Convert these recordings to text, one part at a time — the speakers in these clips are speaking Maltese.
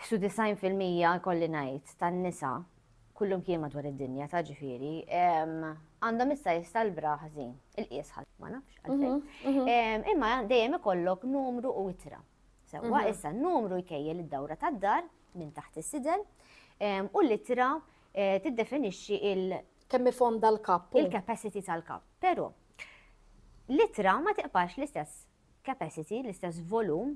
Ħsu 90 fil-mija jkolli ngħid tan-nisa, kullumkien madwar id-dinja ta' ġifieri, għandhom issa jista' l-bra ħażin. Il-qies ħadd ma nafx għalfejn. Mhm, mhm. Imma dejjem ikollok numru u itra. Sewwa mhm. issa n-numru jkejjel id-dawra tad-dar minn taħt is-sidel u l-itra eh, tiddefinixxi il- kemm ifonda l-kapp. Il-capacity tal-kapp. Però l-itra ma tiqpax l-istess capacity, l-istess volum,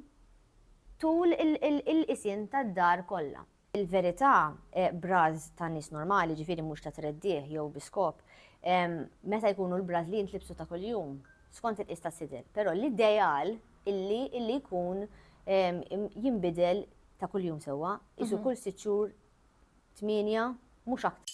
tul il-qisien tad-dar kollha. Il-verità, bras ta' nies normali, jiġifieri mhux ta' treddigħ jew bi skop, meta jkunu l-bras li jintlibsu ta' kuljum, skont il-qies tas-sidel. Però l-ideal illi illi jkun jinbidel ta' kuljum sewwa, qisu kull sitt xhur tmienja, mhux aktar.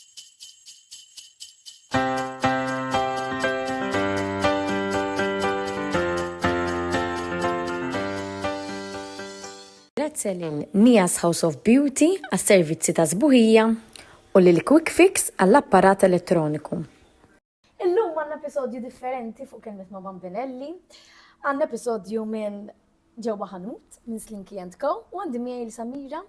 Grazzi lil Nia's House of Beauty għas-servizzi ta' sbuħija u lil Quick Fix għall-apparat elettroniku. Illum għandna episodju differenti fuq kelmet ma' Bambinelli. Għandna episodju minn ġewwa ħanut minn Slinky and Co. U għandi miegħi l-Samira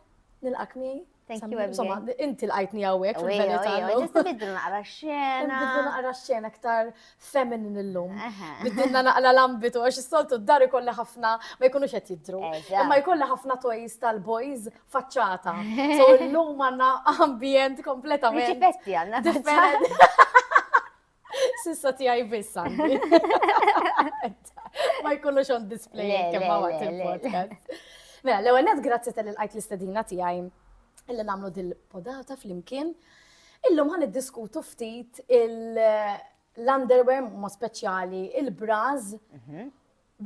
nilqak miegħi. Thank you, Insomma, inti l-għajtni għawek fil-verità. Ġista biddu naqra xena. Biddu naqra xena ktar feminin l-lum. Biddinna naqra l-ambitu, għax s-soltu d-dari kolla ħafna ma jkunux qed jidru. Imma jkolla ħafna toys tal-boys faċċata. So l-lum għanna ambjent kompletament. Riċipetti għanna differenti. Sissa tijaj biss għandi. Ma jkunux on display kemm għawat il-podcast. Mela, l-ewwel net grazzi tal-għajt l-istedina tiegħi illi nagħmlu dil-podata flimkien. Illum ħan diskutu ftit l-underwear ma speċjali, il-braz mhm.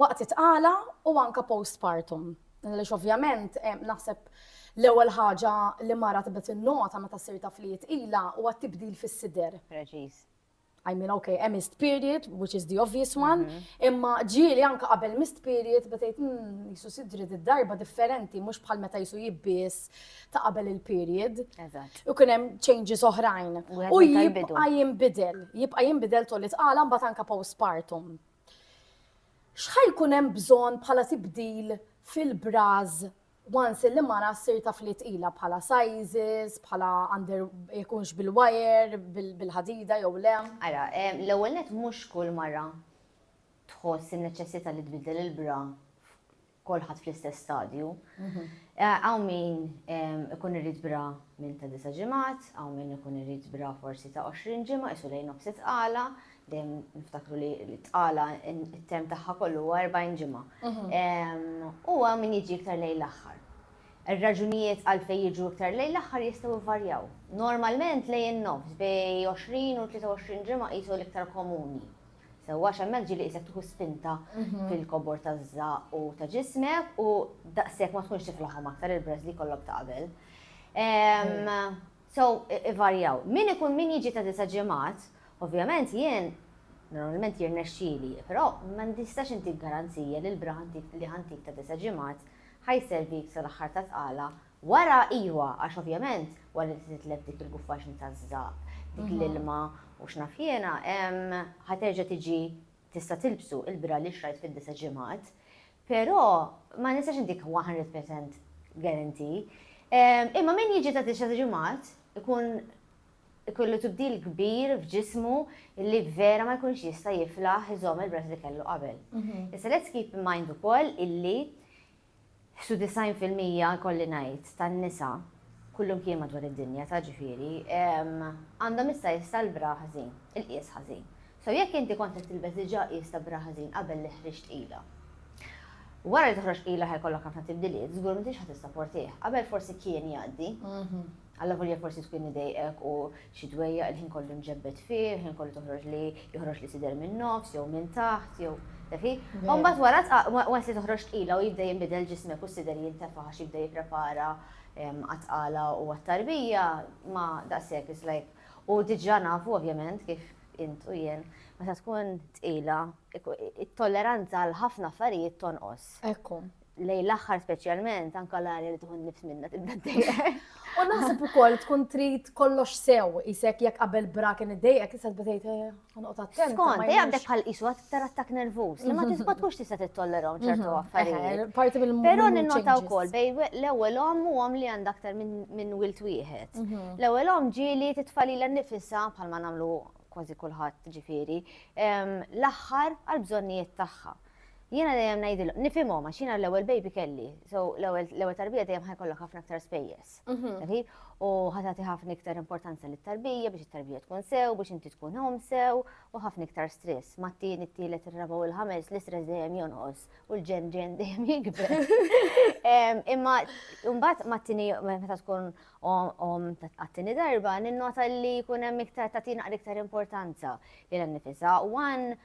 waqt it-tqala u anke postpartum. Għaliex ovvjament naħseb l-ewwel ħaġa li mara tibda tinnota meta ssir taf li tqila huwa t-tibdil fis-sider. Preċiż. I mean, okay, hemm missed period, which is the obvious one, mhm. imma ġieli anka qabel missed period, betejt, hmm, jisu sidri darba differenti, mux bħal meta jisu jibbis ta' qabel il-period. U kunem changes oħrajn. U jibqa jimbidel, jibqa jimbidel tolli tqala mbagħad anka postpartum. X'ħa jkun hemm bżonn bħala tibdil fil-bras once il-limara ssir taf li tqila bħala sizes, bħala under ikunx bil-wire, bil-ħadida jew le? Ara, l-ewwel nett mhux kull mara tħoss in-neċessità li tbiddel il-bra kulħadd fl-istess stadju. Hawn min ikun irid bra minn ta' disa' ġimgħat, hawn min ikun irid bra forsi ta' 20 ġimgħa isu lejn nofs it-tqala, dejjem niftakru li t-tqala it-term tagħha kollu huwa 40 ġimgħa. U hawn min jiġi iktar lejn l-aħħar. Ir-raġunijiet għalfejn jiġu iktar lejn l-aħħar jistgħu jvarjaw. Normalment lejn in-nofs bejn 20 u 23 ġimgħa qisu l-iktar komuni. Sewwa għax hemmhekk ġieli qisek tieħu spinta fil-kobor taż-żaqq u ta' ġismek u daqshekk ma tkunx tiflaħhom aktar il-breaths li jkollok ta' qabel. So, ivarjaw. Min ikun min jiġi ta' disa' ġimgħat, ovvjament jien normalment jirnexxieli, però ma nistax intik garanzija li l-bra li ħa ntik ta' disa' ġimgħat ħa jservik sal-aħħar tat-tqala Wara iva, għax ovvjament wara li titlef dik il-guffaġni taż-żaqq, dik l-ilma u x'naf jiena, ħa terġa' tiġi tista' tilbsu, il-bra li xtrajt fid-disa' ġimgħat. Però ma nistax intik one hundred percent guarantee. Imma min jiġi ta' disa' ġimgħat ikun ikollu tibdil kbir f'ġismu li vera ma jkunx jista' jiflaħ iżomm il-bras li kellu qabel. Issa let's keep in mind ukoll illi Ħsu 90 fil-mija, ikolli ngħid, tan-nisa, kullumkien madwar id-dinja, ta' ġifieri, għandhom issa qies tal-bra ħażin, il-qies ħażin. So jekk inti kont qed tilbes diġà qies ta' bra ħażin qabel li ħriġt tqila, wara li toħroġ tqila ħa jkollok ħafna tibdiliet, żgur m'intix ħa tissaportih. Qabel forsi kien jgħaddi. Allavolja forsi tkun idejqek u xi dwejjaq il-ħin kollu mġebbed fih, il-ħin kollu toħroġ li joħroġ li sider min-nofs jew minn taħt jew tafi. U mbagħad wara tqa- once li toħroġ tqila u jibda jinbidel ġismek u s-sider jintefa' għax jibda jipprepara em, għat-tqala u għat-tarbija, ma daqshekk it's like u diġà nafu ovvjament kif int u jien meta tkun tqila ik- it-tolleranza għal ħafna affarijiet tonqos. Ekku. lej l-aħħar speċjalment anka l-arja li tkun nifs minna tibda dejjem. U naħseb ukoll tkun trid kollox sew isek jekk qabel bra kien iddejjek issa tbdejt eh, ħanqod attent. Skont, dejjem għandek bħal qisu aktar attak nervuż li ma mhm. tista' tkunx tista' tittolleraw ċertu mhm. affarijiet. Eh, parti mill Però ninnota wkoll bej l-ewwel omm u omm li għandha aktar minn wilt wieħed. Mhm. L-ewwel omm ġieli titfalila nnifisha bħalma nagħmlu kważi kulħadd ġifieri, ehm, l-aħħar għall-bżonnijiet tagħha. Jiena dejjem ngħidilhom, nifhimhom għax jiena l-ewwel baby kelli, so l-ewwel tarbija dejjem ħajkollok ħafna aktar spejjeż. Mhm. U ħatati ħafna iktar importanza lit tarbija biex it-tarbija tkun sew, biex inti tkun hom sew, u ħafna iktar stress. Mattin it-tielet ir-raba' u l-ħames l-istress dejjem jonqos u l-ġen ġen dejjem jikber. Imma mbagħad mattini meta tkun om għattini darba, ninnota li jkun hemm iktar tagħtina iktar importanza li l-nifisa. One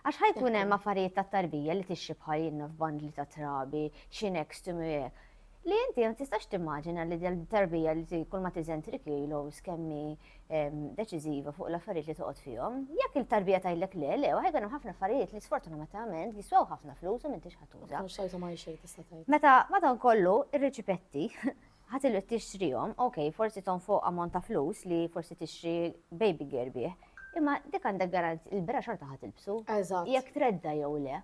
Għax ħa jkun hemm affarijiet ta' tarbija li tixxi bħal jinnaf bandli ta' trabi, xi nextum hekk. Li inti ma tistax timmaġina li tarbija li ti kull ma tiżen 3 kilos kemm hi ehm, deċiżiva fuq l-affarijiet li toqgħod fihom. Jekk il-tarbija tgħidlek le, le, ħajkun hemm ħafna affarijiet li sfortunatament jiswew ħafna flus u m'intix ħatuża. Xejta ma xejn tista' tgħid. Meta madankollu ir-riċipetti Ħa tilwed tixtrihom, ok, forsi tonfoq ammont ta' flus li forsi tixtri baby gear bih, imma dik għandek garanzija, il-bra xorta ħa tilbsu. Eżatt. Jekk tredda jew le.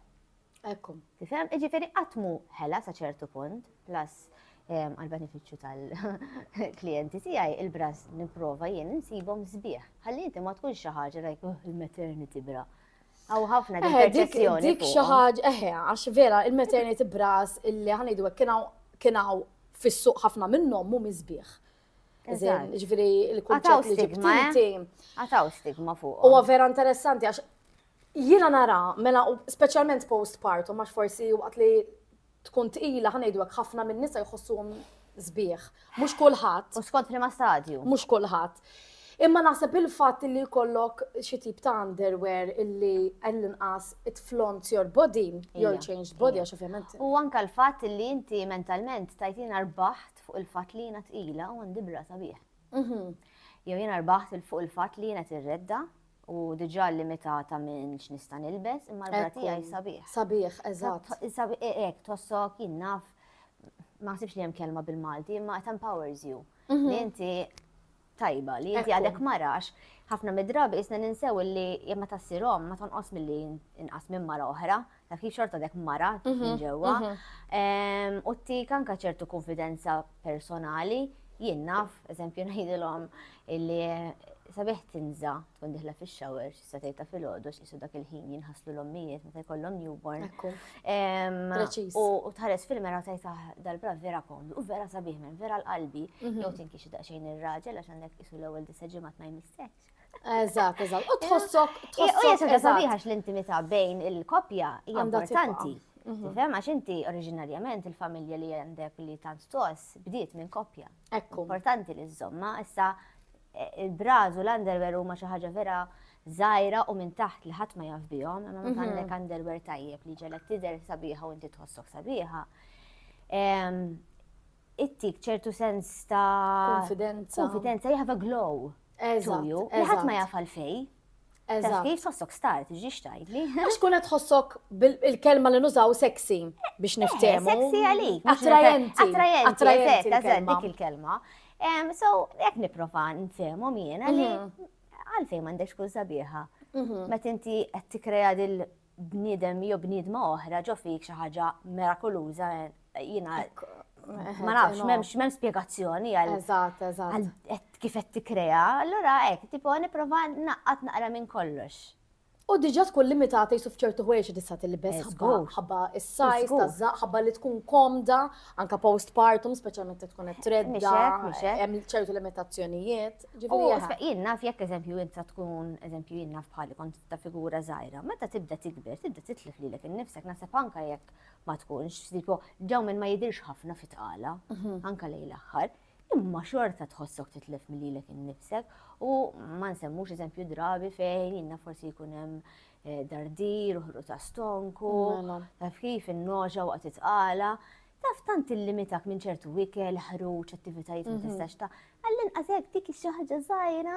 Ekku. Tifhem? Jiġifieri qatt mhu ħela sa ċertu punt, plus għall-benefiċċju tal-klijenti tiegħi il-bras nipprova jien insibhom sbieħ. Ħalli inti ma tkunx xi ħaġa like, oh, il-maternity bra. Aw ħafna din perċezzjoni. Dik xi ħaġa, eħe, għax vera il-maternity bras illi ħanejdu hekk kien hawn fis-suq ħafna minnhom mhu miżbieħ. Ġifieri l-kunċett li stigma. Eh? Għataw stigma fuq. Huwa vera interessanti għax jiena nara mela speċjalment postpartum għax forsi waqt li tkun tqila, ħa ngħidu hekk, ħafna min-nisa jħossuhom sbieħ. Mhux kulħadd. U skont liema stadju. Mhux kulħadd. Imma naħseb il-fatt li jkollok xi tip ta' underwear illi għall-inqas it flont your body, your changed body, għax ovvjament. U anka l-fatt li inti mentalment tajtina rbaħt fuq il-fatt li jiena tqila u għandi bra sabiħ. Mhm. Jew jiena rbaħt fuq il-fatt li jiena tirredda u diġà limitata minn x'nista' nilbes, imma l-bra tiegħi sabiħ. Sabiħ, eżatt. Sabiħ e, hekk tossok jien naf ma sibx li hemm kelma bil-Malti, imma it empowers you. Mhm. Li inti tajba, li inti għadek marax, ħafna mid-drabi isna ninsew li jemma tassirom ma tonqos mill-li inqas minn mara oħra. dak li xorta dek mara minn mhm, ġewwa. Mhm. U t-tik anka ċertu konfidenza personali, jien naf, eżempju ngħidilhom illi sabiħ tinża tkun diħla fix shower xi setej ta' filgħodu xi dak il-ħin jinħaslu l-ommijiet meta jkollhom newborn. U tħares fil-mera tajt ah, dal-bra vera komdu u vera sabiħ minn vera l-qalbi mhm. jew tinki xi daqsxejn ir-raġel għax għandek isu l-ewwel disa ġimgħat ma jmissekx. Eżatt, eżatt. U tħossok tħossok eżatt. l-intimità bejn il-koppja hija importanti. Mhm. Tifhem għax inti oriġinarjament il-familja li għandek li tant tos bdiet minn koppja. Ekku. Importanti li żomma, issa eh, il-braż u l-underwear huma xi ħaġa vera zaħira u minn taħt li ħadd ma jaf bihom, imma ma għandek mhm. underwear tajjeb li ġelek tidher sabiħa u inti tħossok sabiħa. ittik ċertu sens ta' konfidenza. Konfidenza, you have a glow. Eżatt. Li ħadd ma jaf għalfej. Eżatt. Kif tħossok star, tiġix tajli. Għax kun qed tħossok bil-kelma li nużaw sexy biex eh, niftehmu. Sexy għalik. Attrajenti. Attrajenti, eżatt, dik il-kelma. So, jek niprofa nfehmu jiena li mhm. għalfej m'għandekx kull sabiħa. Mhm. Meta inti qed tikkrea dil bniedem jew bniedma oħra ġo fik xi ħaġa mirakuluża jiena ma nafx, m'hemmx m'hemm spjegazzjoni għal. Eżatt, eżatt. Kif qed tikkrea, allura hekk tipo nipprova naqqat naqra minn kollox. U diġà tkun limitata jisu f'ċertu ħwejjeġ tista' tilbes ħabba is-sajż taż-żaq, ħabba li tkun komda, anke postpartum, speċjalment jekk tkun qed tredda, hemm ċertu limitazzjonijiet. Jien naf jekk eżempju inta tkun eżempju jien naf bħali kont ta' figura żgħira. Meta tibda tikber, tibda titlef lilek innifsek naħseb anke jekk ma tkunx, tipo dawn minn ma jidhirx ħafna fit-tqala, mhm. anke lejn l-aħħar, imma xorta tħossok titlef lilek innifsek u ma nsemmux eżempju drabi fejn inna forsi jkun hemm eh, dardir, uħru ta' stonku, mela. taf kif in-noġa waqt it-tqala taf tant illimitak minn ċertu wikel, ħruġ, attivitajiet ma mhm. tistax ta' għallin għazek dik xi ħaġa żgħira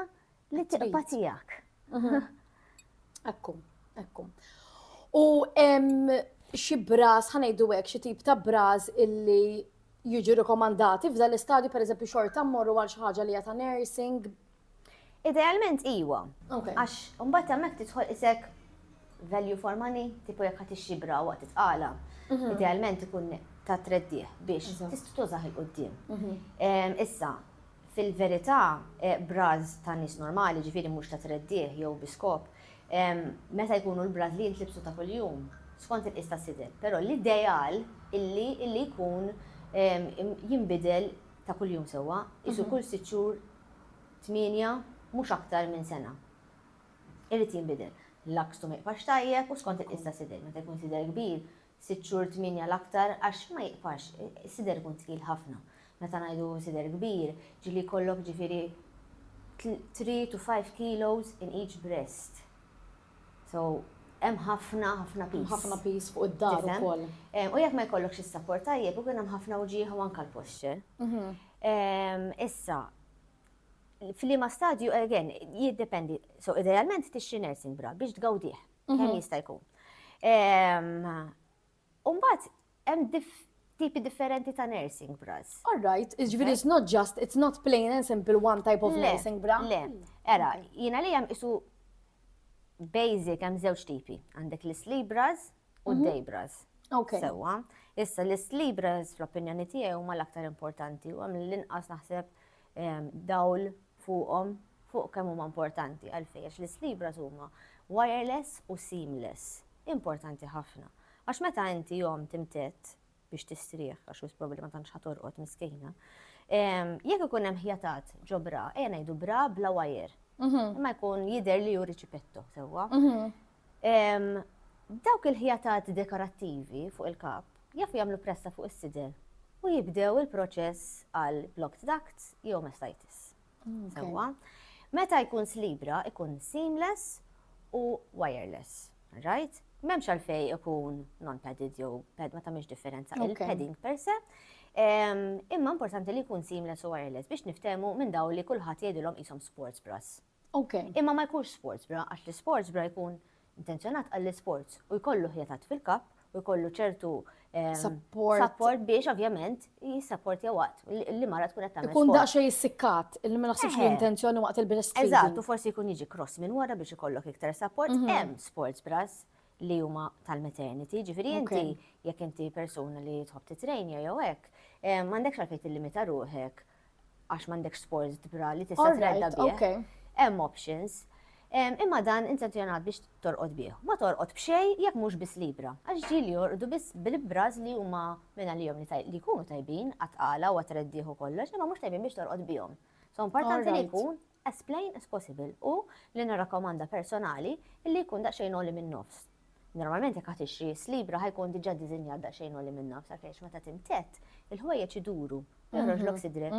Li t-triqpa tijak. Ekku, ekku. U xi braż, ħanejdu hekk xi tip ta' braż illi jiġu rikomandati f'dan l-istadju pereżempju xorta mmorru għal xi ħaġa li ta' nursing. Idealment iwa. Għax mbagħad hemmhekk tidħol isek value for money, tipo jekk ħadd ixxi bra waqt titqala. Mhm. Idealment ikun ta' treddieħ biex tista' tużaħ il-qudiem. Mhm. Issa, Fil-verità, bras ta' nies normali, jiġifieri mhux ta' treddigħ jew bi skop, meta jkunu l-bras li jintlibsu ta' kuljum, skont il-qies tas-sidel. Però l-ideal illi illi jkun jinbidel ta' kuljum sewwa, qisu kull sitt xhur, tmienja, mhux aktar minn sena. Irid jinbidel. L-akstu ma jibqax tajjeb u skont il-qies tas-sidel. Meta jkun sidel kbir, Sitt xhur tmienja l-aktar għax ma jiqpax, is-sider ikun tqil ħafna. Meta ngħidu sider kbir, ġieli jkollok ġifieri three to five kilos in each breast. So hemm ħafna ħafna piż. Ħafna piż fuq id-dar ukoll. U jekk ma jkollokx is-sapport tajjeb ikun hemm ħafna wġieħ u anke l-posture. Issa, f'liema stadju again jiddependi. So idealment tixtri nursing bra biex tgawdih. Kemm jista' jkun. Umbat, hemm tipi differenti ta' nursing bras. All right, iġviri it's not just, it's not plain and simple one type of nursing bra. Le, era, jina li jem isu basic jem zewċ tipi. Għandek l-sleep bras u mhm. day bras. Ok. Sewa. Issa l-sleep bras fl-opinjoni tiegħi huma l-aktar importanti u għam l-inqas naħseb dawl fuqhom, fuq kemm huma importanti, għalfejn? Għax l-islibras huma wireless u seamless, importanti ħafna. Għax meta inti jom timtedd biex tistrieħ, għax wis probabbli ma tantx ħa torqod miskejna, jekk ikun hemm ħjatat ġo bra, ejja ngħidu bra bla wire, mhm. imma jkun jidher li hu riċipetto sewwa. Mhm. Dawk il-ħjatat dekorattivi fuq il-kap jafu jagħmlu pressa fuq is-sider u jibdew il-proċess għal blocked duct jew mastitis. Sewwa? Meta jkun slibra ikun seamless u wireless. Right? M'hemmx għalfej ikun non-padded jew pad ma tagħmilx differenza il-padding per se. Imma importanti li jkun seamless u wireless biex niftehmu minn daw li kulħadd jgħidilhom qishom sports bras. Ok. Imma ma jkunx sports bra, għax li sports bra jkun intenzjonat għall sports u jkollu ħjatat fil-kap u jkollu ċertu ehm, support biex ovvjament jissapport jew waqt li mara tkun qed tagħmel. Ikun daqsxej jissikkat, il ma naħsibx li intenzjoni waqt il-breastfeeding. Eżatt, u forsi jkun jiġi cross minn wara biex ikollok iktar support. Mhm. Hemm sports bras li huma tal-maternity, ġifiri inti jekk inti persuna li tħobb titrejn jew hekk, eh, m'għandekx għalfejn tillimita ruħek għax m'għandekx sport tbra li tista' tredda bih. Hemm options. Imma dan intenzjonat biex torqod bih. Ma torqod b'xej jekk mhux biss libra. Għax ġieli jorqdu biss bil-bras li huma minn għalihom li jkunu tajbin għat-tqala u għat-treddieħ u kollox, imma mhux tajbin biex torqod bihom. So importanti li jkun as plain as possible u, li nirrakkomanda personali, illi jkun daqsxejn għoli min-nofs. Normalment jekk ħatixtri is libra ħa jkun diġà diżinjat daqsxejn għoli min-nofs għalkex meta timtedd, il-ħwejjeġ iduru u joħroġlok sidriek.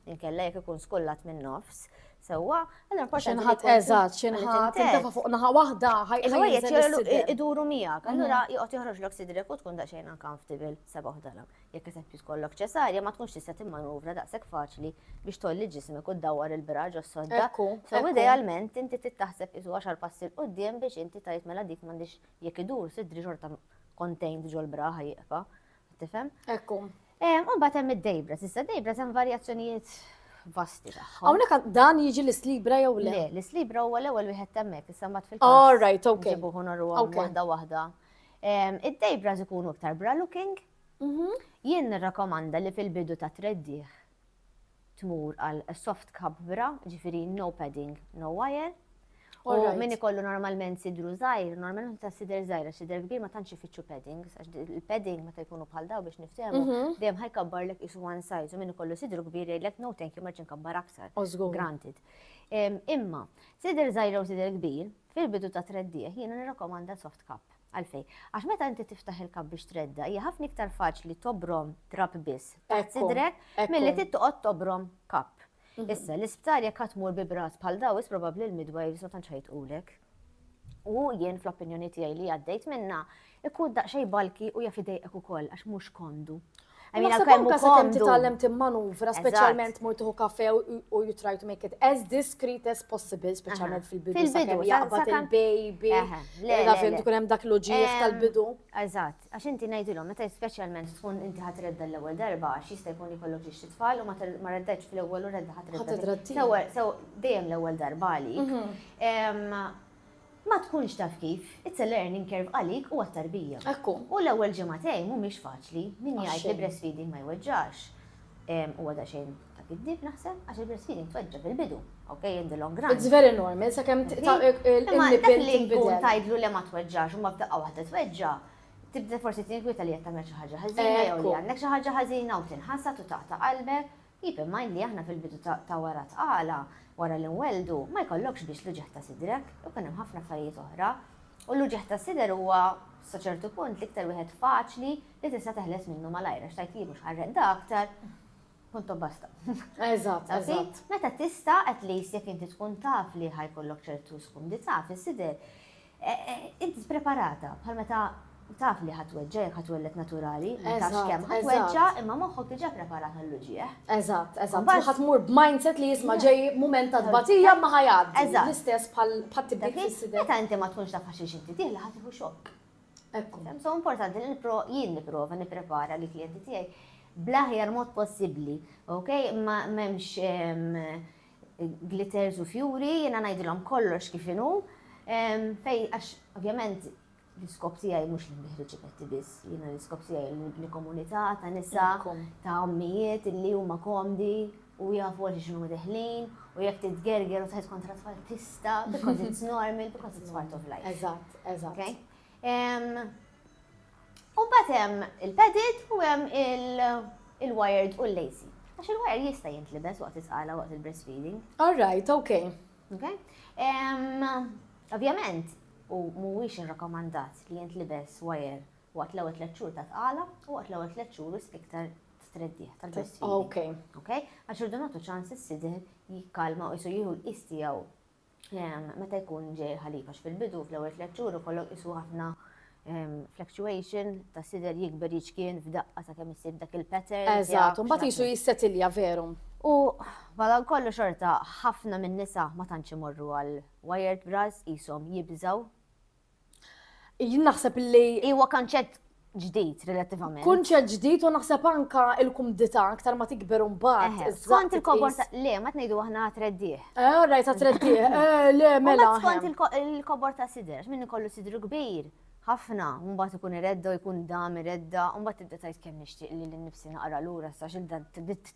Inkella jekk ikun skullat min-nofs sewwa, allura importanti li X'inħatt jkun eżatt, xi meta nħatt timtedd. intefa' fuq naħa waħda ħa ħa Il-ħwejjeġ jinżel jgħidu is-sidel. iduru miegħek, allura joqgħod joħroġlok sidriek u tkun daqsxejn uncomfortable, sebgħuh dalam. Jekk eżempju tkollok ċesarja ma tkunx tista' timmanuvra daqshekk faċli biex tgħolli ġismek u ddawwar il-bra ġos-sodda. So idealment inti trid taħseb qisu għaxar passi 'l quddiem biex inti tgħid mela dik m'għandhiex jekk idur sidri xorta contained ġol-bra ħa jieqfa'. Tifhem? Ekku. U mbagħad hemm id-dejbra. Issa d-dejbra hemm varjazzjonijiet vasti tagħha. Hawnhekk dan jiġi l-islibra jew le? Le, l-islibra huwa l-ewwel wieħed hemmhekk, issa mbagħad fil-każ. All right, okay. Ġibuħu norru waħda waħda. Id-dejbra ikunu iktar bra looking, Jien nirrakkomanda li fil-bidu tat-treddigħ tmur għal soft cup bra, ġifieri no padding, no wire. U min ikollu normalment sidru żgħir, normalment meta s-sider żgħir għax sider kbir ma tantx ifittxu paddings, għax il-padding meta jkunu bħal dawn biex niftehmu, dejjem ħa jkabbarlek qisu one size u min ikollu sidru kbir jgħidlek no thank you ma rridx inkabbar aktar. Granted. Imma, sider żgħir jew sider kbir, fil-bidu tat-treddigħ jiena nirrakkomanda soft cup. Għalfejn? Għax meta inti tiftaħ il-kapp biex tredda, hija ħafna iktar faċli tobrom trab biss taħt sidrek milli trid toqgħod tobrom kapp. Issa, l-isptar jekk qatt mur bi brat bħal dawis probabbli l-midwives ma tantx ħajtqulek. U jien fl-opinjoni tiegħi li għaddejt minna, ikun daqsxejn balki u jaf idejqek ukoll għax mhux kondu. Għamina Naħseb kemm anka sakemm komdu. titgħallem timmanuvra, speċjalment mur tieħu kafe u u you try to make it as discreet as possible, speċjalment fil-bidu Fil-bidu, sakemm sa- jaqbad sakemm- il-baby. Eħe, le, le, Taf le. ikun hemm dak l-uġieħ Em, tal-bidu. Eżatt, għax inti ngħidilhom meta speċjalment tkun inti ħadd redda l-ewwel darba għax jista' jkun jkollok xi tfal u ma tar- ma reddetx fl-ewwel u redda ħadd Ħadd redda. redda t-tieni. Sew- sew- Dejjem l-ewwel darba għalik. Em, Ma tkunx taf kif, it's a learning curve għalik u għat-tarbija. Hekk hu. U l-ewwel ġimagħtejn mhumiex faċli, min jgħid li breastfeeding ma jweġġax, huwa daqsxejn ta' kiddieb naħseb, għax il-breastfeeding tweġġa' fil-bidu, ok, in the long run. It's very normal, sakemm il-nipple tinbidel. Imma dak li jkun tgħidlu le ma tweġġax u mbagħad f'daqqa waħda tweġġa', tibda forsi tinkwieta li qed tagħmel xi ħaġa ħażina jew li għandek xi ħaġa ħażina u tinħasad u taqta' qalbek. Keep in mind li aħna fil-bidu ta' wara t-tqala, wara li nwelldu, ma jkollokx biss l-uġigħ ta' sidrek, ikun hemm ħafna affarijiet oħra. U l-uġigħ tas-sider huwa, sa ċertu punt, l-iktar wieħed faċli li tista' teħles minnu malajr għax tgħid li mhux ħarreqda aktar, punto basta. Eżatt, eżatt. Meta tista' at least jekk inti tkun taf li ħa jkollok ċertu skumdità fis-sider, Int preparata, bħal meta taf li ħa tweġġa' jekk ħa twelled naturali, ma tafx kemm ħa tweġġa' imma moħħok diġà preparat għall-uġigħ. Eżatt, eżatt. Imbagħad ħa tmur b'mindset li isma' ġej mument ta' tbatija imma ħa jgħaddi. Eżatt. L-istess bħat-tibdil fis-sider. Meta inti ma tkunx taf għax inti dieħla ħa tieħu xokk. Ekku. So importanti li jien nipprova nipprepara lill-klijenti tiegħi bl-aħjar mod possibbli, okay? M'hemmx glitters u fjuri, jiena ngħidilhom kollox kif inhu. Fej, għax ovvjament l-iskop tiegħi mhux li nbiħri ċipetti biss, jiena l-iskop tiegħi li komunità ta' nisa, ta' ommijiet li huma komdi u jafu għal xinu deħlin u jekk titgerger u tħed kontra tfal tista, because it's normal, because it's part of life. Eżatt, eżatt. U mbagħad hemm il-padded u hemm il-wired u l-lacy. Għax il-wired jista' jintlibes waqt is-sqala waqt il-breastfeeding. All right, okay. Okay? Ovvjament, u mhuwiex irrakomandat li jintlibes wire waqt l-ewwel tliet xhur ta' sqala u waqt l-ewwel tliet xhur wisq iktar streddieħ tal-breastfeeding. Okay. Okay? Għax irdu nagħtu ċans is-sidir jikkalma u jieħu l-qies tiegħu meta jkun ġej il-ħalib għax fil-bidu fl-ewwel tliet xhur ikollok qisu ħafna ehm, fluctuation ta' sider jikber jiċkien f'daqqa sa' kemm isib dak il-pattern. Eżatt, u mbagħad jisu jissetilja veru. U bħala kollu xorta ħafna minn nisa ma tantx imorru għal wired bras qishom jibżaw Jien naħseb li. Iwa kanċett ġdid relattivament. Kunċett ġdid u naħseb anka il-kumdità aktar ma tikber mbagħad. Skont il-kobor ta' le ma tnejdu aħna treddieħ. Eh, rajt ta' treddieħ. Eh, le mela. Skont il-kobor ta' sidr, minn ikollu sidru kbir. Ħafna, mbagħad ikun iredda jkun dam iredda, mbagħad tibda tajt kemm nixtieq li l-nifsi naqra lura sa xil dan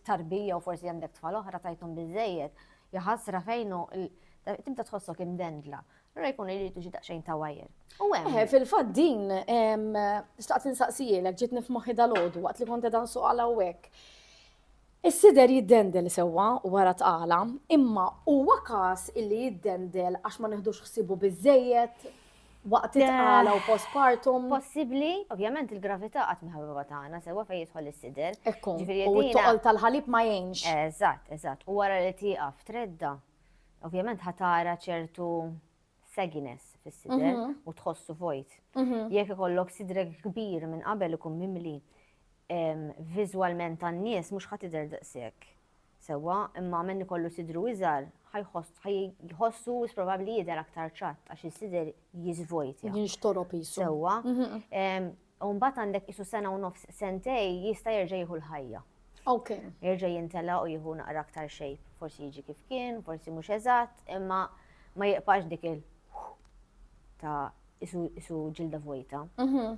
tarbija u forsi għandek tfal oħra tajthom biżejjed. Jaħasra fejnu tibda tħossok imdendla. Ra jkun irridu xi daqsxejn ta' wajr. U hemm. Eh, fil-fatt din staqt insaqsijilek ġiet nifmoħħi dal-għodu waqt li kont dan suq għal hawnhekk. Is-sider jiddendel sewwa wara tqala, imma huwa każ illi jiddendel għax ma neħdux ħsibu biżejjed waqt it-tqala u postpartum. Possibbli, ovvjament il-gravità qatt miħabba tagħna sewwa fejn jidħol is-sider. Ekku, u t-toqol tal-ħalib ma jgħinx. Eżatt, eżatt. U wara li tieqaf tredda ovvjament ħatara ċertu sagginess fis-sidel mhm. u tħossu vojt. Mhm. Jekk ikollok sidrek kbir minn qabel ikun mimli viżwalment tan-nies mhux ħadd idher daqshekk. Sewwa, imma minn ikollu sidru iżgħar ħajħossu probabbli jidher aktar ċatt għax is-sider jiżvojt. Jinxtorob jisu. Sewwa. Mhm. U mbagħad għandek qisu sena u nofs, sentej, jista' jerġa' jieħu l-ħajja. Ok. Jerġa' jintelaq u jieħu naqra aktar shape. Forsi jiġi kif kien, forsi mhux eżatt, imma ma jiqpax dik il ta' isu ġilda vojta. Mhm.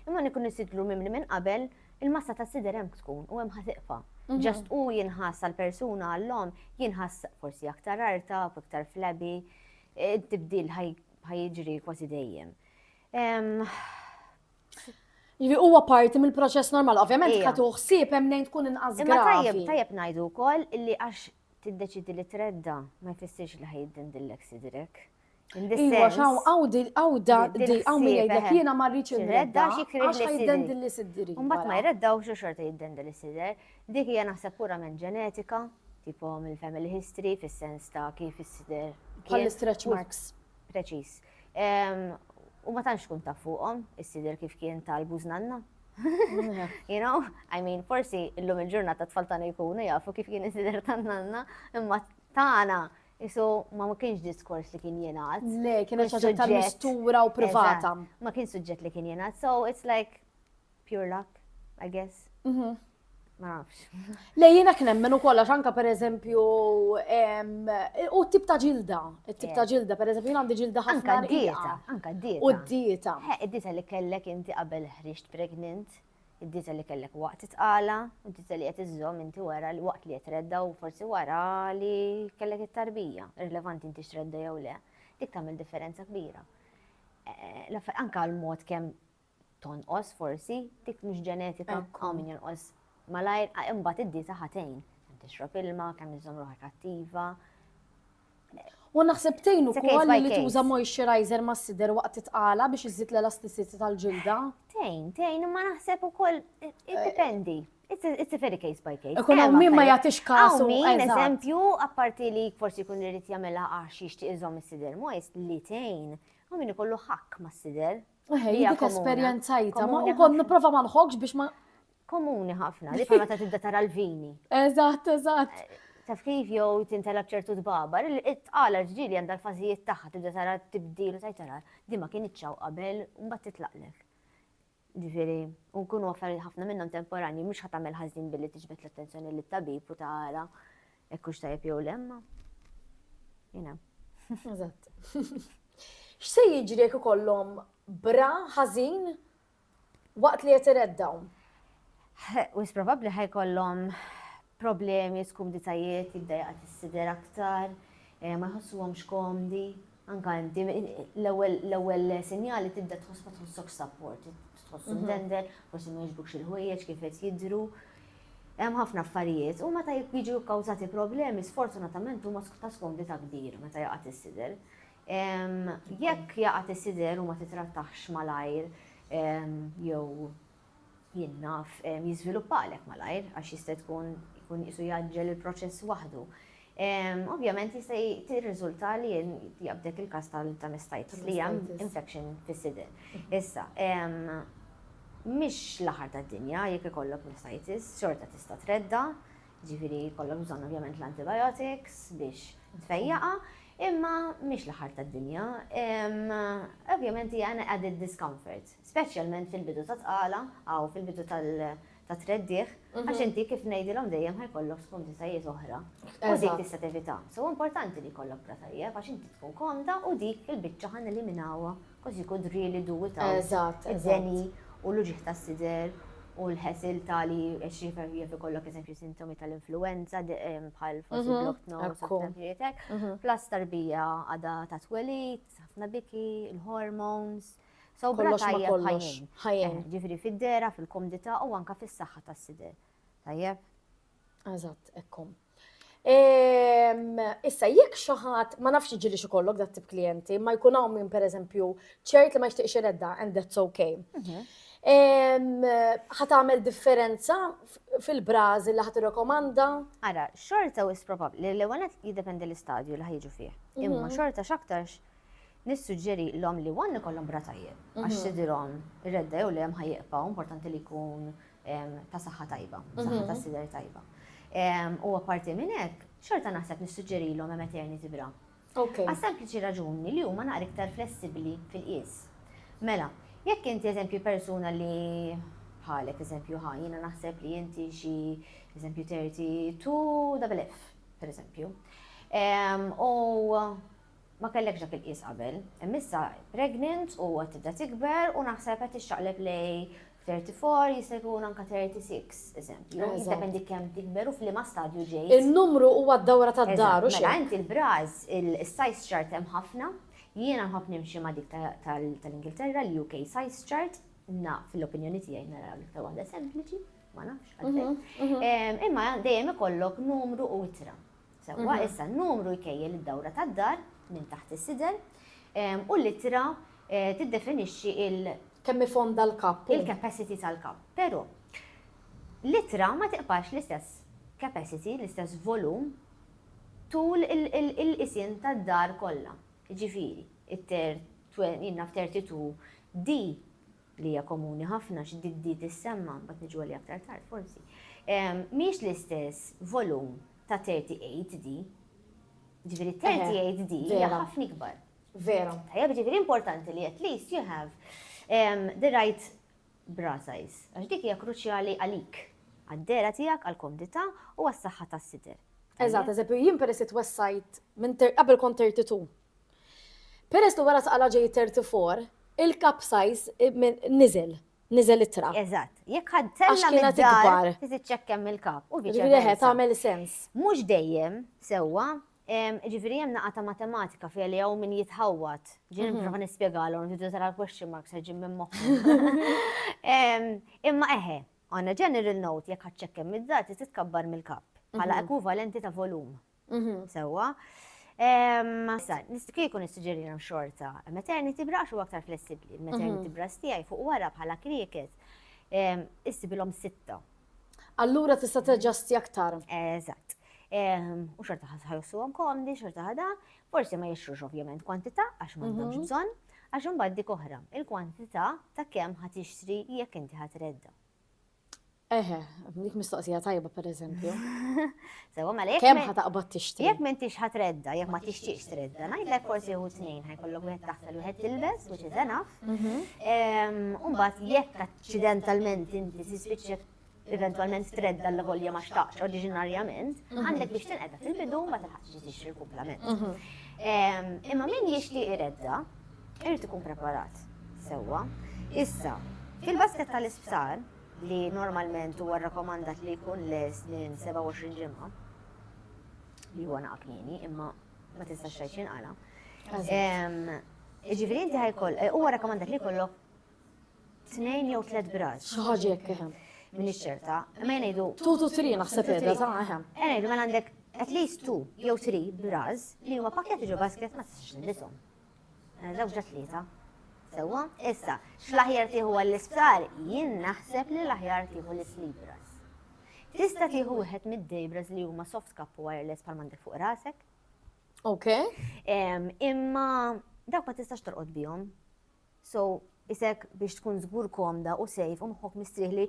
Imma nikun nisidlu mimli minn qabel, il-massa ta' sider hemm tkun u hemm ħatiqfa. Mhm. Ġast u jinħass għal-persuna għallom, jinħass forsi aktar arta, aktar flabby, e, tibdil ħajġri kważi dejjem. Jiġifieri huwa parti mill-proċess normal, ovvjament ka tuħsib hemm nejn tkun inqas gravi. Imma tajjeb, tajjeb ngħidu wkoll li għax tiddeċidi li tredda ma jfissirx li ħajdin dillek sidrek. Iwa, xaw, għawdi, għawda, di, għaw min jgħidlek jena marriċ il-redda, għax jgħidden dilli siddiri. Umbat ma jredda u xorta jgħidden dilli sidder. Dik hija naħseb pura minn ġenetika, tipo mill-family history, fis-sens ta' kif is-sidder. Bħal-stretch marks. Preċis. U ma tantx kun taf fuqhom, issider kif kien tal-buż nanna. You know, I mean, forsi illum il-ġurnata tfal tagħna jkunu jafu kif kien isider tan-nanna, imma tagħna isu ma ma kienx diskors li kien jingħad. Le, kien ħaġa tal-mistura u privata. Ma kien suġġett li kien jingħad, so it's like Pure luck, I guess. Mhm. Ma nafx. Le jiena kien hemm minn ukoll għax anke pereżempju em, u t-tip ta' ġilda, it-tip ta' ġilda, pereżempju jien għandi ġilda Anka ħafna d-dieta, rqiqa. anka d-dieta. U d-dieta. He, id-dieta li kellek inti qabel ħriġt pregnant, id-dieta li kellek waqt it-tqala, u d-dieta li qed iżżomm inti wara li waqt li qed redda u forsi wara li kellek it-tarbija, irrilevanti inti x'tredda jew le, dik tagħmel differenza kbira. Eh, l-affa- Anka l-mod kemm tonqos forsi, dik mhux ġenetika, hawn min jonqos malajr, imbagħad id-dieta ħa tgħin. Kemm tixrob ilma, kemm iżżomm ruħek attiva. U naħseb tgħin ukoll li tuża moisturizer ma' sider waqt titqala biex iżid l-elasticity tal-ġilda. Tgħin, tgħin, imma naħseb ukoll iddependi. Eh, It's a very case by case. Ikun hawn min ma jagħtix kasu. Min eżempju, apparti li forsi jkun irid jagħmilha għax jixtieq iżomm is-sider moist li tgħin, hawn min ikollu ħakk mas-sider Eħe, dik esperjenzajta, ma u kon niprofa ma nħokx biex ma. Komuni ħafna, li fama ta' tibda tara l-vini. Eżatt, eżatt. Eh, taf kif jew tintela bċertu dbabar, it-tqala ġġili għandha l-fażijiet tagħha tibda tara tibdil u tajtara, di ma kien iċċaw qabel u mbagħad titlaqlek. Ġifieri, u nkunu affarijiet ħafna minnhom temporani, mhux ħatamel ħażin billi tiġbed l-attenzjoni lit-tabib u tara Hekk hux tajjeb jew le imma. You know. Eżatt. X'se jiġri jekk ikollhom bra ħażin waqt li qed ireddgħu? Wis probabbli ħajkollhom problemi, skumditajiet, jiddejqat is-sider aktar, eh, ma jħossuhomx komdi. Anke inti, l-ewwel sinjal li tibda tħoss ma tħossokx support, tħoss imdendel, forsi ma jogħġbukx il-ħwejjeġ kif qed jidhru. Hemm ħafna affarijiet u meta jiġu kkawżati problemi sfortunatament huma ta' skomdità kbir meta jaqa' tissider. Jekk jaqa' tissider u ma titrattax malajr jew jien naf, jiżviluppa għalhekk malajr għax jista' tkun ikun qisu jgħaġġel il-proċess waħdu. Ovvjament jista' tirriżulta li jabdek il-każ tal-mastitis li hija infection fis-sider. Issa, mhix l-aħħar tad-dinja jekk ikollok mastitis, xorta tista' tredda, ġifieri jkollok bżonn ovvjament l-antibiotics biex tfejjaqha, imma mhix l-aħħar tad-dinja. Ovvjament hija added discomfort. speċjalment fil-bidu tat-tqala aw fil-bidu tat-treddigħ, għax inti kif ngħidilhom dejjem ħa jkollok spuntitajiet oħra u dik tista' tevitha. So huwa importanti li jkollok bra tajjeb għax inti tkun komda u dik il-biċċa ħa neliminawha cos you could really do without id-deni u l-uġigħ tas-sider u l-ħesil ta' li għax jaf ikollok eżempju sintomi tal-influenza bħal forsi blocked nose u tafritek, plus tarbija għadha ta' twelid, ħafna biki, il-hormones, Sew bla kollox ma tajjeb kollox. ħajjin. Ħajjin. Eh, Ġifri fid-dera, fil-komdità u anka fis-saħħa tas-sider. Tajjeb? Eżatt, ekkom. Ehm, Issa, jekk xi ħadd ma nafx ġili xi kollok dat tip klijenti, ma jkun hawn min pereżempju ċert li ma jixtieqx iredda and that's okay. Mhm. Ehm, Ħat għamel differenza f- fil-brażi li ħat irrekomanda? Ara, xorta u probabbli li l-ewwel qed jiddependi l-istadju li ħajġu fih. Imma Mhm. xorta x'aktarx Nissuġġerilhom li one ikollhom bra tajjeb, għax mhm. sidirhom redda jew le hemm ħajjibqgħu importanti li jkun ta' saħħa tajba, saħħa mhm. ta' sider tajba. U apparti minn hekk, xorta naħseb nissuġġerilhom hemm eternity bra. Għas sempliċi raġuni li huma naqra iktar flessibbli fil-qies. Mela, jekk inti eżempju persuna li bħalek eżempju ħa, jina naħseb li inti xi eżempju 32 double F, per eżempju. U ma kellekx dak il-qies qabel, imma issa pregnant u qed tibda tikber u naħseb qed tixxaqleb lej 34 jista' jkun anke 36 eżempju. Eżatt. Jiddependi kemm tikber u f'liema stadju ġejt. In-numru huwa d-dawra tad-dar u Eżatt, Mela xejn. inti l-bras, is-size chart hemm ħafna. Jiena nħobb nimxi ma' dik ta- tal- tal-Ingilterra, l-UK size chart, na fil-opinjoni tiegħi nara l-iktar waħda sempliċi, ma nafx għalfejn. Em, Imma dejjem ikollok numru u ittra. Sewwa, mhm. issa n-numru jkejjel id-dawra tad-dar minn taħt is-sider u l-ittra eh, tiddefinixxi il- kemm ifond dal-kapp. Il-capacity tal-kapp. Però l-ittra ma tiqbax l-istess capacity, l-istess volum tul il-qisien tad-dar kollha. Ġifieri, it-ter, jinnaf 32 di li hija komuni ħafna għax di tissemma, mbagħad niġu għaliha aktar tard forsi, mhijiex l-istess volum ta' 38D. Ġifieri 38D hija ħafna ikbar. Vera. Tajjeb, ġifieri importanti li at least you have the right bra size. Għax dik hija kruċjali għalik, għad-dera tiegħek, għall-komdità u għas-saħħa tas-sider. Eżatt, eżempju, jien peress twessajt minn qabel kont 32. Peress li wara saqala ġej it-34, il-capsize niżel, niżel ittra. Eżatt. Jekk ħadd tella' mid-dar, tiċċekkem mill-kap. U viċi versa. tagħmel sens. Mhux dejjem, sewwa, ġifieri hemm naqa' ta' matematika fiha li hawn min jitħawwad. Ġieli mhm. nipprova nispjegalhom, tidu tara l-question mark se ġim minn moħħhom. Imma eħe, on a general note, jekk ħadd ċekkem mid-dar, titkabbar mill-kap bħala mhm. ekwivalenti ta' volum. Mhm, sewwa. Sa, kieku nistiġerina xorta, maternity brax u aktar flessibli, maternity mhm. brax tijaj fuq wara bħala krieket, istibilom sitta. Allura tista teġasti aktar. Eżat. U xorta ħajussu għom komdi, xorta ħada, forsi ma jixrux ovvjament kwantita, għax ma għandhomx mhm. bżon, għax mbagħad dik oħra, il-kwantita ta' kemm ħat jixtri jekk inti ħat redda. Eħe, dik mistoqsija tajba per eżempju. Sewa ma lek. Kemm ħa taqbad tixtri? Jekk m'intix ħa tredda, jekk ma tixtiex tredda, ngħidlek forsi hu tnejn ħajkollok wieħed taħt u wieħed tilbes, which is enough. Mhm. Umbagħad jekk aċċidentalment inti tispiċċa eventualment tredda l volja ma xtaqx oriġinarjament, mhm. għandek biex tinqedha fil-bidu ma tilħaqx tixtri l-kumplament. Mhm. Imma min jixtieq iredda, Irid ikun preparat sewwa. Issa, fil-basket tal-isptar, li normalment huwa rrakkomandat li jkun les minn 27 ġimgħa, li huwa naqa' kmieni, imma ma tistax xejn xinqala. Ġifieri inti ħajkoll, eh, huwa rakkomandat li jkollok tnejn jew tliet bras. Xi ħaġa jekk eħem. Min iċċerta, ma jgħidu. Tu tu tri naħseb qiegħda ta' eħem. Ngħidu ma mela għandek at least two jew three bras li huma pakketti ġo basket ma tistax nindithom. Żewġa tlieta. Sewwa? Issa, x'l-aħjar tieħu għall-isptar? Jien naħseb li l-aħjar tieħu l-islibras. Tista' tieħu wieħed mid-dejbras li huma soft cap u wireless bħal m'għandek fuq rasek. Ok. Imma dawk ma tistax torqod bihom. So, isek biex tkun żgur komda u sejf u moħħok mistrieħ li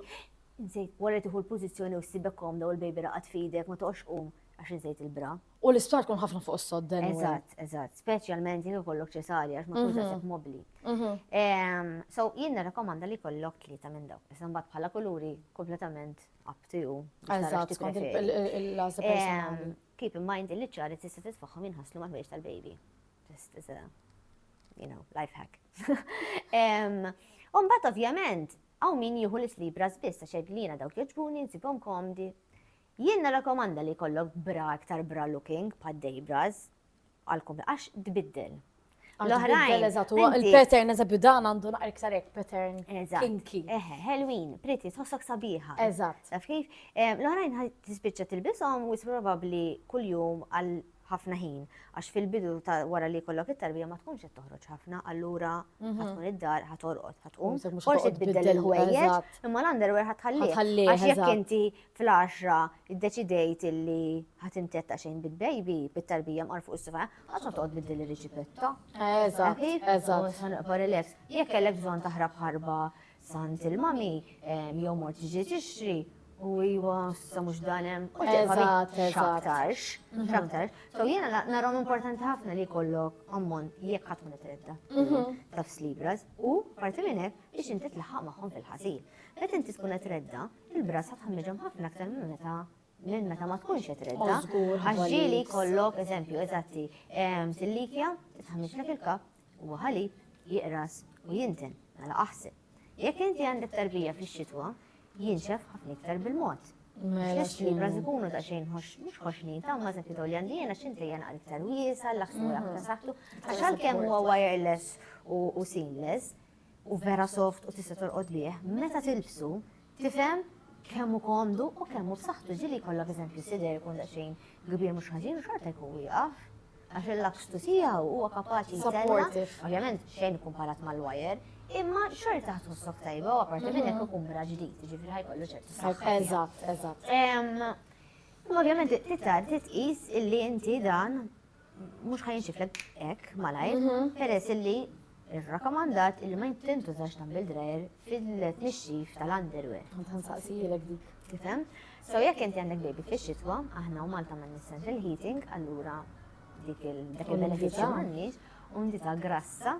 insejt wara tieħu l-pożizzjoni u ssibek komda u l-baby raqad f'idek ma toqgħodx qum għax insejt il-bra. U l-isptar tkun ħafna fuq is-sodden. Eżatt, eżatt, speċjalment jien ikollok ċesarja għax ma tkunx mhm. qed mobbli. Mhm. Ehm, so jien nirrakkomanda li kollok tlieta minn dawk. Issa mbagħad bħala kuluri kompletament up to you. Eżatt, skont il-laża ehm, personali. Keep in mind li ċari tista' titfaħħom jinħaslu mal-ħwejġ tal-baby. Just as a you know, life hack. Umbat ovvjament, għaw min jieħu l-slibra zbis ta' xeglina dawk joġbuni nsibhom komdi. Jien narakomanda li kollok bra iktar bra looking pa' dejbras għalkom għax tbiddel. L-oħrajn. Il-pattern eżab dan għandu naqra iktar hekk pattern. Kinki. Eħe, Halloween, pretty, tħossok sabiħa. Eżatt. Taf kif? L-oħrajn tispiċċa tilbishom u probabbli kuljum għal ħafna ħin, għax fil-bidu ta' wara li jkollok it-tarbija ma tkunx qed toħroġ ħafna, allura Mhm. ħatkun id-dar, ħatorqod, ħatqum. Mhux se tmur Forsi toqgħod tbiddel tbiddel, il-ħwejjeġ, eżatt. imma l-underwear ħatħallih. Ħatħallih, Għax jekk eżatt. inti fl-10 iddeċidejt illi ħatimtetta xejn bil-baby, bit-tarbija mqar fuq is-sifa, ħadd ma toqgħod tbiddel ir-riċipetta. Eżatt, Ħafif, eżatt. ħanqba relax. Jekk kellek bżonn taħrab ħarba Sant il-mami, jew mort ġi tixtri, u iwa, sa mux danem, u ġeħat, xaktarx, xaktarx. So jena narom importanti ħafna li kollok ammont jekk ħatmu nitredda, mhm. taf slibras, u parti minnek biex inti tlaħħaq maħħom fil-ħasil. Bet inti tkun tredda, il-bras ħatħamġom ħafna aktar minn meta minn meta ma tkunx qed tredda, għax ġieli jkollok eżempju eżatti tillikja tħammislek il-kap u ħalib jiqras u jinten mela aħseb. Jekk inti għandek tarbija fix-xitwa, jinxef ħafna iktar bil-mod. Mela xibras ikunu ta' xejn mhux ħoxnin ta' ma' sekkitu li għandi jena xinti jena iktar wiesa, l-aħsmu l-aktar saħtu, għax għalkemm huwa wireless u seamless, u vera soft u tista' torqod bih, meta tilbsu tifhem kemm hu komdu u kemm hu b'saħħtu ġieli jkollok eżempju sider ikun daqsxejn kbir mhux ħażin u xorta jkun wieqaf għax il-lakstu tiegħu huwa kapaċi jtella', ovvjament xejn ikkumparat mal-wajer, imma xorta ħa tħossok tajba u apparti minn hekk ikun bra ġdid, ġifieri ħajkollu ċertu saħħa. Eżatt, eżatt. Imma ovvjament titgħaddi tqis illi inti dan mhux ħa jinxiflek hekk malajr, mhm. peress illi irrakkomandat illi ma jintużax dan bil-drajer fil-tnixxif tal-underwear. Ħansaqsijilek dik. Tifhem? So jekk inti għandek baby fix-xitwa, aħna u Malta ma nissan fil-heating, allura dik il-benefiċċju m'għandniex, u ndi ta' grassa.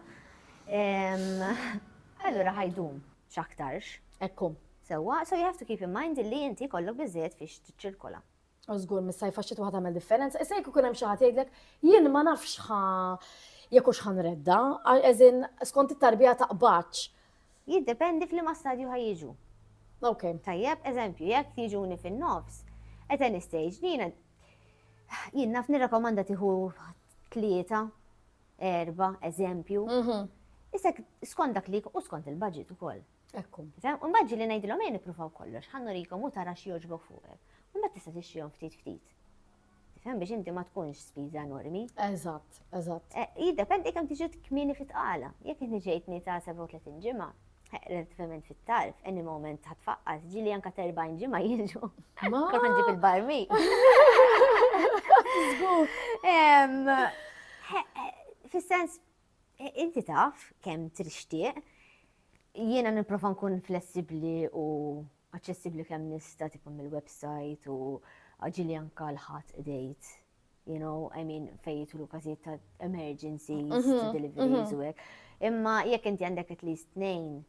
Allura ħajdum x'aktarx. Ekkum. Sewwa, so you have to keep in mind illi inti kollok biżejjed fiex tiċċirkola. U żgur mis-sajf għax xitwa tagħmel differenza. Issa jekk ikun hemm xi ħadd jgħidlek jien ma nafx ħa jekk hux ħanredda, eżin skont it-tarbija taqbadx. Jiddependi fl-ma stadju ħajġu. Ok. Tajjeb, eżempju, jekk jiġuni fin-nofs, at any stage, jiena jien naf nirrakomanda tiħu tlieta, erba, eżempju. Mhm. Issa skont dak li u skont il-budget ukoll. Ekku. Sehem, u mbagħad ġieli ngħidilhom ejja nippruvaw kollox, ħa nurikom u tara x'jogħġbok fuqek. U mbagħad tista' tixtrihom ftit ftit. Tifhem biex inti ma tkunx spiża enormi. Eżatt, eżatt. Eh, jiddependi kemm tiġi kmieni fit-tqala. Jekk inti ġejtni ta' 37 ġimgħa, relativament fit-tarf, any moment ta' tfaqqas, ġili anka ta' 40 ġimma jiġu. Ma. Kif nġib il-barmi. Fis-sens, Inti taf kemm trixtieq. Jiena nipprova nkun flessibbli u aċċessibbli kemm nista' tipo mill-website u ġili anka l-ħadd dejt. You know, I mean, fejtu l każijiet ta' emergencies, ta' mhm, deliveries mhm. u hekk. Imma jekk inti għandek at least tnejn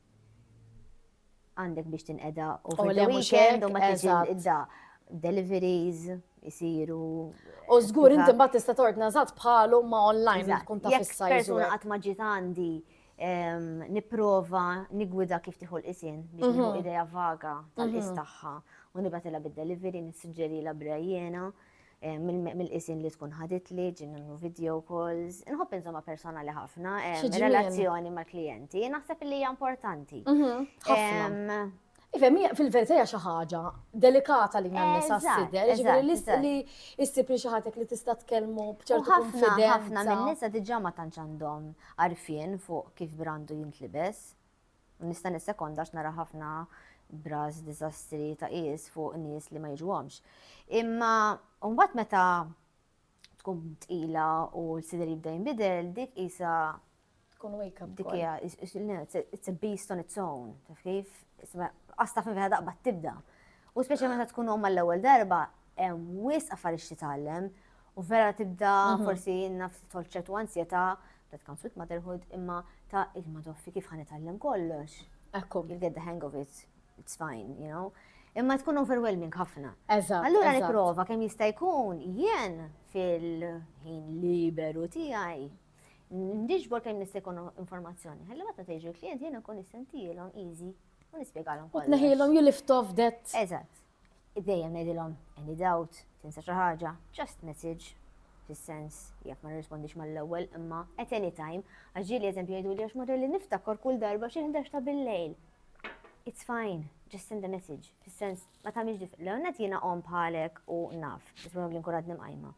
Għandek biex tinqeda u oh, the weekend u ma tiġi da deliveries jisiru. U żgur inti mbagħad tista' tordna żgħat bħalu ma online tkun ta' fissa. Persuna qatt ma ġiet għandi ehm, nipprova nigwida kif tieħu l-isin biex mhm. nieħu idea vaga tal-is mhm. tagħha u nibatilha bid-delivery nissuġġeri la brejjena. mill-qisien li tkun ħaditli, ġin nagħmlu video calls. Inħobb inżomma personali ħafna, relazzjoni mal-klijenti, naħseb li hija importanti. Mhm, Ifem, fil-verità hija xi ħaġa delikata li nagħmel sa s-sider, ġifieri li issib li xi ħatek li tista' tkellmu b'ċertu konfidenza. Ħafna minn nisa diġà ma tantx għandhom għarfien fuq kif brandu jintlibes. Nista' nissekonda għax nara ħafna bras diżastri ta' qis fuq nies li ma jiġuhomx. Imma mbagħad meta tkun tqila u l-sider jibda jinbidel, dik isa tkun wake up. Dik hija it's a beast on its own, taf kif? Asta fin fejn daqba tibda. U speċi meta tkun omma l-ewwel darba, hemm wis affarijiet titgħallem u vera tibda mhm. forsi naf tolċet u ansjeta That comes with motherhood, imma ta' il-madoffi kif ħan itallem kollox. Ekku. You'll get the hang of it, it's fine, you know. Imma tkun overwhelming ħafna. Eżatt. Allura nipprova kemm jista' jkun jien fil-ħin liberu tiegħi ndiġbor kemm nista' jkun informazzjoni. Ħalli meta tgħiġi l-klijent jiena nkun nissentilhom easy u nispjegalhom. U tneħilhom you lift off that. Eżatt. Dejjem ngħidilhom, any doubt, tinsa xi ħaġa, just message, fis-sens, jekk ma nirrispondix mal-ewwel, imma at any time, għax ġieli eżempju jgħiduli għax mara li niftakar kull darba xi ħdax ta' bil-lejl. It's fine, just send a message, fis-sens, ma tagħmilx dif. L-għonet jiena qom bħalek u naf, isma li nkun għadni mqajma.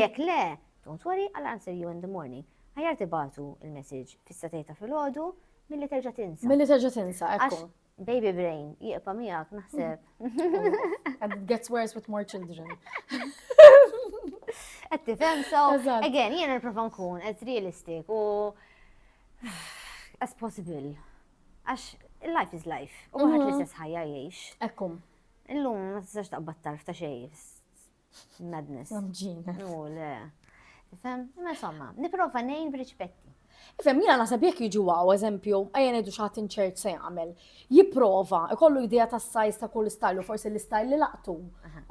Jekk le, don't worry, I'll answer you in the morning. Ħajar tibatu il-message fis-satejta fil-ħodu, mill-li terġa tinsa. Mill-li terġa tinsa, ekku. Baby brain, jieqpa miegħek naħseb. And it gets worse with more children. Qed tifhem so again jiena nipprova nkun as realistic u as possible. Għax life is life. U għad li mhm. s ħajja jgħix. Ekkum. Illum ma tistax taqbad tarf ta' xejn. Madness. Mġina. U le. Fem, imma insomma, niprofa nejn b'riċpetti. Fem, jina nasab jek jiġu għaw, eżempju, għajen edu xaħat inċert se jgħamil, jiprofa, kollu idea ta' sajz ta' kull style u forsi l-style li laqtu.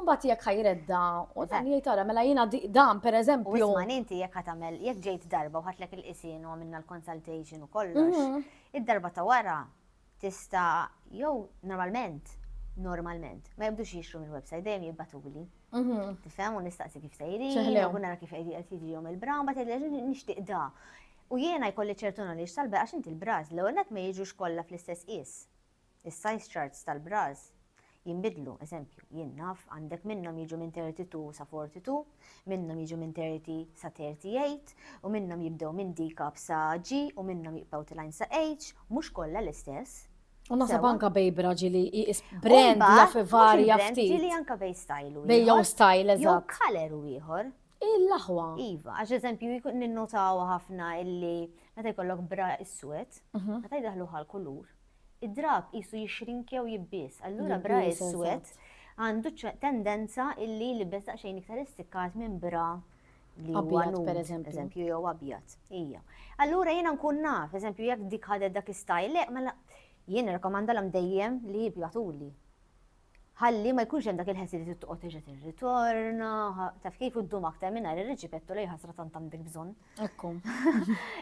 Mbagħad jekk ħajredda u dan jgħid ara mela jiena dan pereżempju. Isma' inti jekk ħatamel jekk ġejt darba u ħatlek il-qisin u għamilna l-consultation u kollox, mhm. id-darba ta' wara tista' jew normalment, normalment, ma jibdux jixtru mill-website, dejjem jibbatuli. Tifhem u nistaqsi kif sejri, Ċeħlew. u nara kif qed qed jiġihom il-bra, mbagħad jgħidli "Ġu, nixtieq da. U jiena jkolli ċertu knowledge tal-bra għax inti l-bras l-ewwel nett ma jiġux kollha fl-istess qies. Is-size charts tal-bras jinbidlu, eżempju, jien naf, għandek minnhom jiġu minn 32 sa 42, minnhom jiġu minn 30 sa 38, u minnhom jibdew minn D cup sa G u minnhom jibqgħu tilgħin sa H, mhux kollha l-istess. U nasab anka bej braġi li jis brand jaf varja ftit. Ġili anka bej style. Bej jow style, eżatt. Jow kaler u ieħor. Il-laħwa. Iva, għax eżempju jkun ninnotaw ħafna illi meta jkollok bra is-swet, mhm. meta jdaħlu ħal kulur, Id-drapp qisu jixrink jew jibbies, allura bra iswed għandu tendenza illi jlibbes daqsxejn iktar istikkat minn bra li huwa nude, per eżempju, jew abjad. Ija. Allura jiena nkun naf, eżempju, jekk dik ħadet dak istajl, le, mela jien rekomandalhom dejjem li jibjatuli. ħalli ma jkunx hemm dak il-ħessi li tittoqgħod terġa' tirritorna, taf kif iddum aktar mingħajr ir-riġipettu li ħasra tant għandek bżonn. Ekku.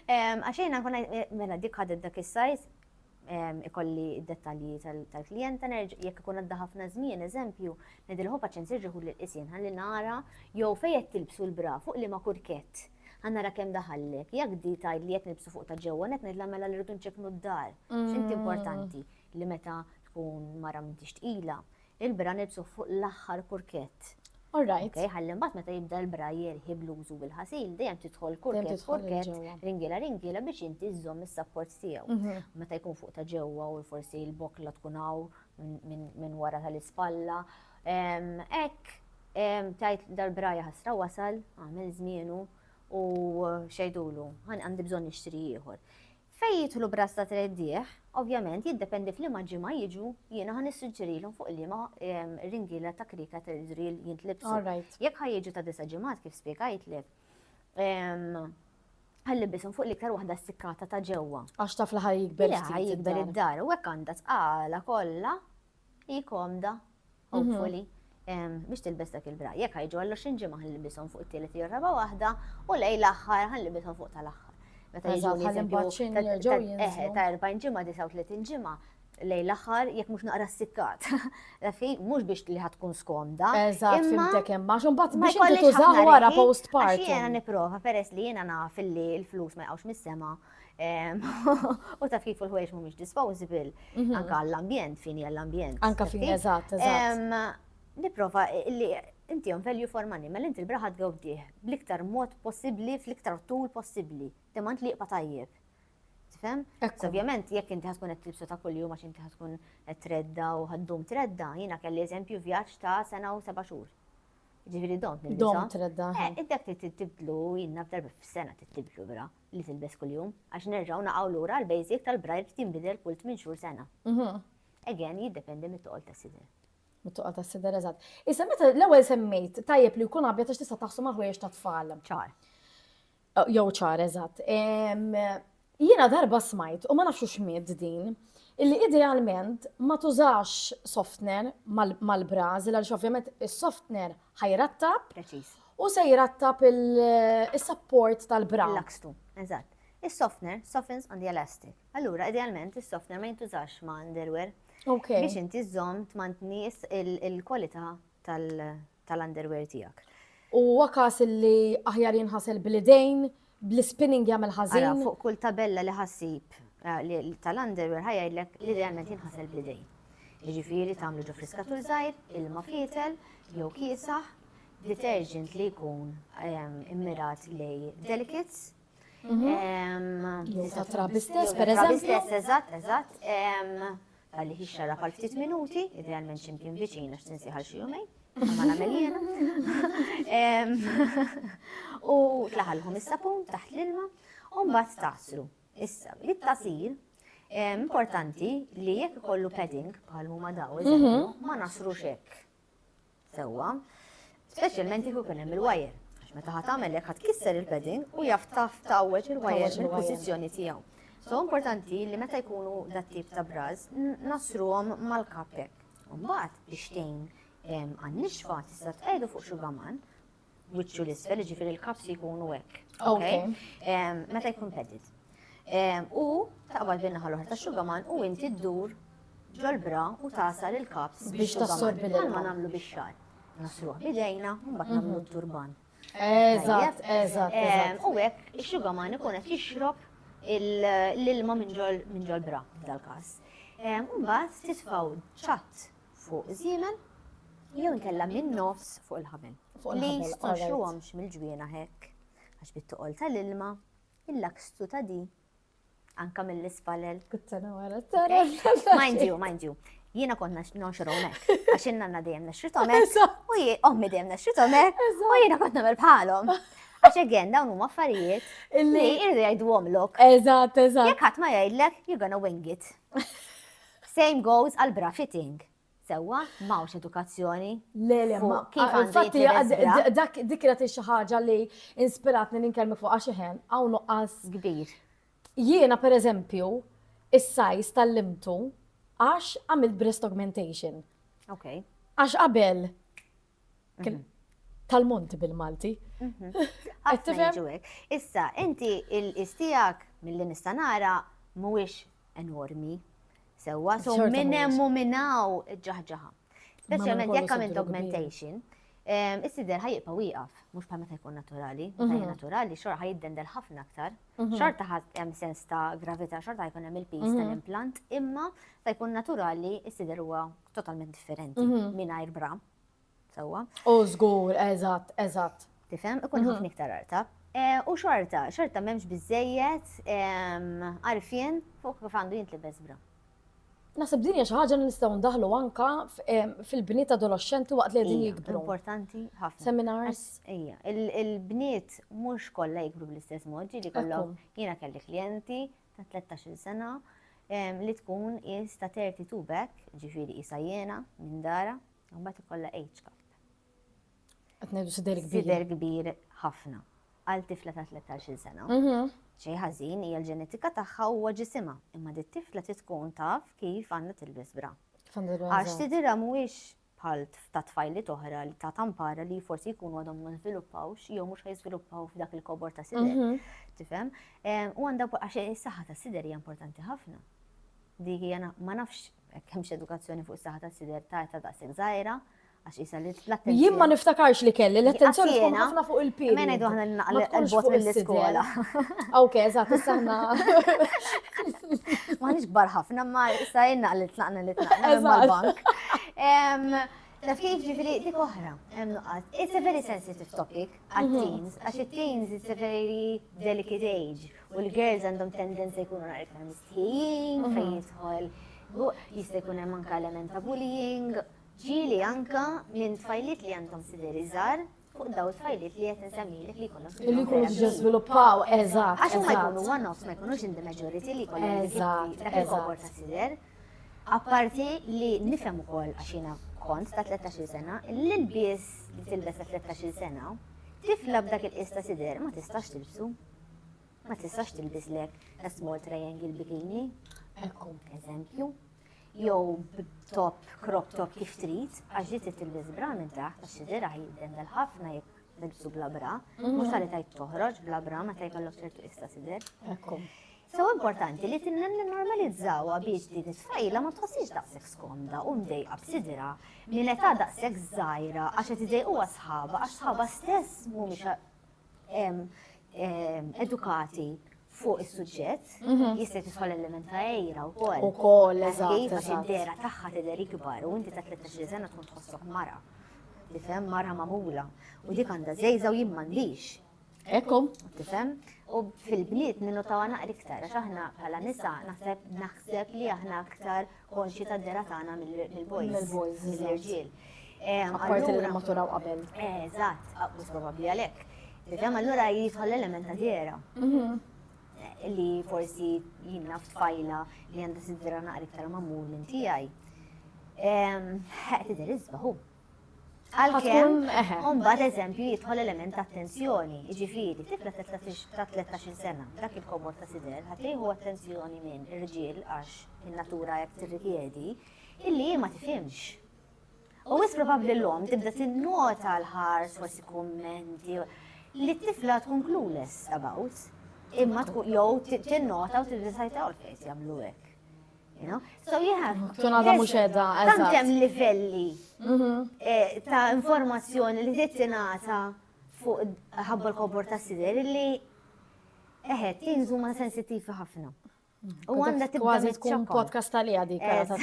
Għax jiena nkun eh, mela dik ħadet dak is-sajz ikolli d-dettalji tal-klijenta jekk ikun għadda ħafna żmien, eżempju, nedilħu paċen sirġiħu l-isien ħalli nara jew fejn tilbsu l-bra fuq li ma kurkett għanna kem daħallek, jak di tajd li jett nibsu fuq ta' ġewwa, net nidla mela li rridu nċeknu d-dar, xint mm. importanti. li meta tkun mara m'intix tqila, il-bra nilbsuh fuq l-aħħar kurkett. All right. Okay, ħalli mbagħad meta jibda l-bra jerħi bluzu bil-ħasil, dejjem tidħol kurkett kurkett, ringiela ringiela biex inti żżomm is-sapport tiegħu. Mhm. Meta jkun fuq ta' ġewwa u forsi l-bokla tkun hawn minn wara tal-ispalla. Ek, tajt dal-braja ħasra wasal, għamil żmienu u xejdulu, għandi bżonn nixtri ieħor. Fejn jidħlu b'ras ta' treddigħ, ovvjament jiddependi f'liema ġimgħa jiġu, jiena ħa nissuġġerilhom fuq liema ringiela ta' krieka ta' drill jintlibsu. Jekk ħa jiġu ta' disa' ġimgħat kif spjegajtlek, ħa nlibbishom fuq l-iktar waħda ssikkata ta' ġewwa. Għax taf li ħa jikber ftit. Le, ħa jikber id-dar u hekk għandha tqala kollha Hi komda, hopefully, mhm. biex tilbes dak il-bra. Jekk ħajġu għallu xinġi maħan libison fuq it-tielet jew raba waħda u lej l-aħħar ħan libison fuq tal-aħħar. Meta jiġu eżempju ta' 40 ġimgħa, 39 ġimgħa, lej l-aħħar jekk mhux naqra s-sikkat. Fi mhux biex li ħatkun skomda. Eżatt, fimtek hemm għax imbagħad biex inti tużaw wara postpartum. Jiena nipprova peress li jiena naf li l-flus ma jqgħux mis-sema U taf kif il-ħwejġ mhumiex disposable, mhm. anka l-ambjent, fini għall-ambjent. Anka fini, eżatt, eżatt. Niprofa li inti jom value for money, ma mela l-inti l-braħat għawdiħ bl-iktar mod possibli, fl-iktar tul possibli, demant li jqba tajjeb. Tifhem? Ovvjament, jekk inti ħatkun qed tilbsu ta' kuljum għax inti ħatkun qed tredda u ħaddum tredda, jiena kelli eżempju vjaġġ ta' sena u seba' xhur. Ġifieri dom nilbisa. Dom tredda. Eh, id-dek li tibdlu, jiena f'darba f'sena tibdlu vera. li tilbes kuljum, għax nerġgħu naqgħu lura għall-basic tal-braille li tinbidel kull tmien xhur sena. Again, jiddependi mit-toqol tas-sider. Mit-toqol tas-sider, eżatt. Issa meta l-ewwel semmejt tajjeb li jkun abjad għax tista' taħsu ma' ħwejjeġ tat-tfal. Ċar. Oh, jew ċar, eżatt. Jiena darba smajt, u ma nafxu xmiet din, illi idealment ma tużax softner mal-brażil, għal ovvjament is-softner ħajrattab. Preċis. U se jrattab is-sapport tal-bra. Lakstu, eżatt. Is-softener softens on the elastic. Allura, idealment, is-softener ma jintużax ma' underwear. Ok. Biex inti żżomm tmantni il-kwalità tal-underwear tiegħek. U huwa każ li aħjar jinħasel bl-idejn bl-ispinning jagħmel ħażin. Ara, fuq kull tabella li ħassib eh, tal-underwear ħajgħidlek li realment jinħasel bl-idejn. Jiġifieri tagħmlu ġo friskatur żgħir, ilma fietel, jew kiesaħ, detergent li jkun ehm, immirat li delicates. Mhm. Ehm, Jew ta' trabi stess, per eżempju. Stess, eżatt, eżatt. Ehm, Talli xixxarab għal ftit minuti, idealment ximkien viċin għax tinsieħ għal xi jumejn, ma nagħmel jiena. U tlaħalhom is-sapun taħt l-ilma u mbagħad taslu. Issa, it-tasil importanti li jekk ikollu padding bħal huma daw, mhm. ma nasrux hekk. sewwa, speċjalment jekk ikun hemm il-wajer. Għax meta ħadd tagħmel hekk ħadd kisser il-padding u jaf taf tawweġ il-wajer mill-pożizzjoni tiegħu. So importanti li meta jkunu dat tip ta' braż nasruhom mal-kap hekk. Mbagħad biex tgħin għan-nixfa tista' tqegħdu fuq xi gaman wiċċu l-isfel, ġifiri l-kaps jkunu hekk. Ok. Meta jkun pedit. U taqbad bin-naħa l-oħra ta' xugaman u inti ddur ġol-bra u tasal il-kaps biex tassorbi l ma nagħmlu bix-xar. Nasruħ bidejna, mbagħad mhm. nagħmlu turban. Eżatt, eżatt. U hekk ix-xugaman ikun qed jixrob l-ilma minn ġol-bra dal-każ. Mbagħad titfgħu ċatt fuq iż-żiemel jew inkella min-nofs fuq il-ħabel. Li stonxruhomx mill-ġwiena hekk, għax bit-toqol tal-ilma, il-lakstu ta' di, anka mill-ispalel. Kuttana wara tara. Mind you, mind you. Jiena kont nonxruhom hekk, għax in-nanna dejjem nexritom hekk, u ommi dejjem nexritom hekk, u jiena kont nagħmel bħalhom. Għax again, dawn huma affarijiet li irdu jgħidu għomlok. Eżatt, eżatt. Jekk ħadd ma jgħidlek, you're gonna wing it. Same goes għal bra fitting. Sewwa, m'hawnx edukazzjoni. Le, le, ma kif għandu jitqies Dak dik kienet xi ħaġa li inspiratni li nkellmu fuq għax iħen hawn nuqqas kbir. Jiena pereżempju is-sajs tal-limtu għax għamilt breast augmentation. Okay. Għax qabel tal-monti bil-Malti. Issa, inti il-istijak mill-li nistanara mhuwiex enormi. Sewa, so minn hemm u minn hawn ġaħġaħa. Speċjalment jekk għamilt augmentation, is-sider ħajibqa' wieqaf, mhux bħal meta jkun naturali. Meta mhm. naturali, xorta ħajiddendel ħafna aktar. Mhm. Xorta hemm sens ta' gravità, xorta jkun hemm il-pis mhm. tal-implant, imma ta' jkun naturali, is-sider huwa Totalment differenti, mingħajr bra. Sewwa. U żgur, eżatt, eżatt. Tifhem, ikun mhm. ħafna iktar artab. E, u xorta, xorta m'hemmx biżejjed għarfien fuq kif għandu jintlibes bra. Nasib din hija xi ħaġa li nistgħu ndaħlu anka fil-bniet adolescenti waqt li qegħdin jikbru. Importanti ħafna. Seminars. Ija, il-bniet mhux kollha jikbru bl-istess mod, ġieli kollhom jiena kelli klijenti ta' tlettax-il sena li tkun is ta' thirty two b'hekk, jiġifieri qisha jiena minn dara, u mbagħad ikollha age gap. Qed ngħidu sider kbir. Sider kbir ħafna għal tifla ta' tlettax-il sena. Xejn ħażin hija l-ġenetika tagħha huwa ġisimha, imma dit-tifla trid tkun taf kif għandha tilbes bra. Għax sidirha mhuwiex bħal ta' tfajliet oħra ta' tampara li forsi jkunu għadhom ma żviluppawx jew mhux ħajżviluppaw f'dak il-kobor ta' sider. Mhm. Tifhem? Em, U għandha wkoll- għax is-saħħa ta' sider hija importanti ħafna. Dik hija na- ma nafx hekk hemmx edukazzjoni fuq is-saħħa ta' sider ta' ta' daqshekk żgħira għax isa li l-attenzjoni. Jien ma niftakarx li kelli l-attenzjoni tkun Jiena- ħafna fuq il-pil. Ma ngħidu aħna li naqal Ma tkunx il-bot fuq is-sider. mill-iskola. Ok, eżatt, issa aħna. Ma nix bar ħafna, ma issa jenna li tlaqna li tlaqna mal-bank. Taf kif ġifiri dik oħra, hemm nuqqas. It's a very sensitive topic għat-teens, mhm. għax it-teens it's a very delicate age u l-girls għandhom tendenza jkunu nar iktar mistħijin, mhm. fejn jidħol jista' jkun hemm anke element ta' bullying, ġieli anka minn tfajlit li għandhom sideri żgħar, fuq daw il-fajliet li qed insemmilek li jkunu Li jkunu ġew żviluppaw, eżatt. Għax huma jkunu one-offs ma jkunux in the majority li jkollhom Eżatt, dak il-kobor ta' sider. Apparti li nifhem ukoll għax jiena kont ta' 13-il sena, l-ilbies li tilbes ta' 13-il sena, tifla b'dak il-qies ta' sider ma tistax tilbsu. Ma tistax tilbislek a small triangle bikini. Ekku. Eżempju. jew b'top crop top kif trid, għax ġiet tilbis bra minn taħt għax xidira jiddendel ħafna jekk nilbsu bla bra, mhm. mhux għalli tajt toħroġ bla bra meta jkollok ċertu issa sidir. So importanti li tinnem li normalizzawa biex din it-tfajla ma tħossix daqshekk skomda u mdejqa b'sidira minn età daqshekk żgħira għax qed idejquha sħaba għax sħaba stess mhumiex edukati fuq is-suġġett, mhm. jista' tisħol element ta' ejra u koll. U koll, eżatt. Għax id-dera tagħha tidher ikbar u inti ta' 13 sena tkun tħossok mara. Tifhem mara magħmula. U dik għandha żejża u jien m'għandix. Ekku. Tifhem? U fil-bniet ninnotaw għana iktar, għax aħna bħala nisa naħseb naħseb li aħna aktar konxji tad-dehra tagħna mill-boys. Mill-boys, mill-irġiel. Apparti li maturaw qabel. Eżatt, mhux probabbli għalhekk. Tifhem allura jidħol l-element ta' dehra. Mhm. Li forsi jinnna f'tfajla li għandha sidra naqra iktar mammur minn tiegħi. Tidher iżbaħu. Għalkemm, mbagħad eżempju jidħol element ta' attenzjoni, jiġifieri tifla ta' 13 sena, dak il-komod ta' sider, ħadd jieħu attenzjoni minn irġiel għax in-natura hekk tirrikjedi, illi hi ma tifhimx. U wis probabbli l-lom tibda tinnota l-ħars forsi kummenti li t-tifla tkun clueless about, imma tkun jew tinnota u tibda tajta u l-fejs jagħmlu hekk. So you have. Tonada mhux edha. Tantem livelli mhm. eh, ta' informazzjoni li tittinata fuq ħabba l-kobor ta' sider li eħed tinżu ma' sensittivi ħafna. U għanda tibda tkun podcast tal-li għadi kara ta'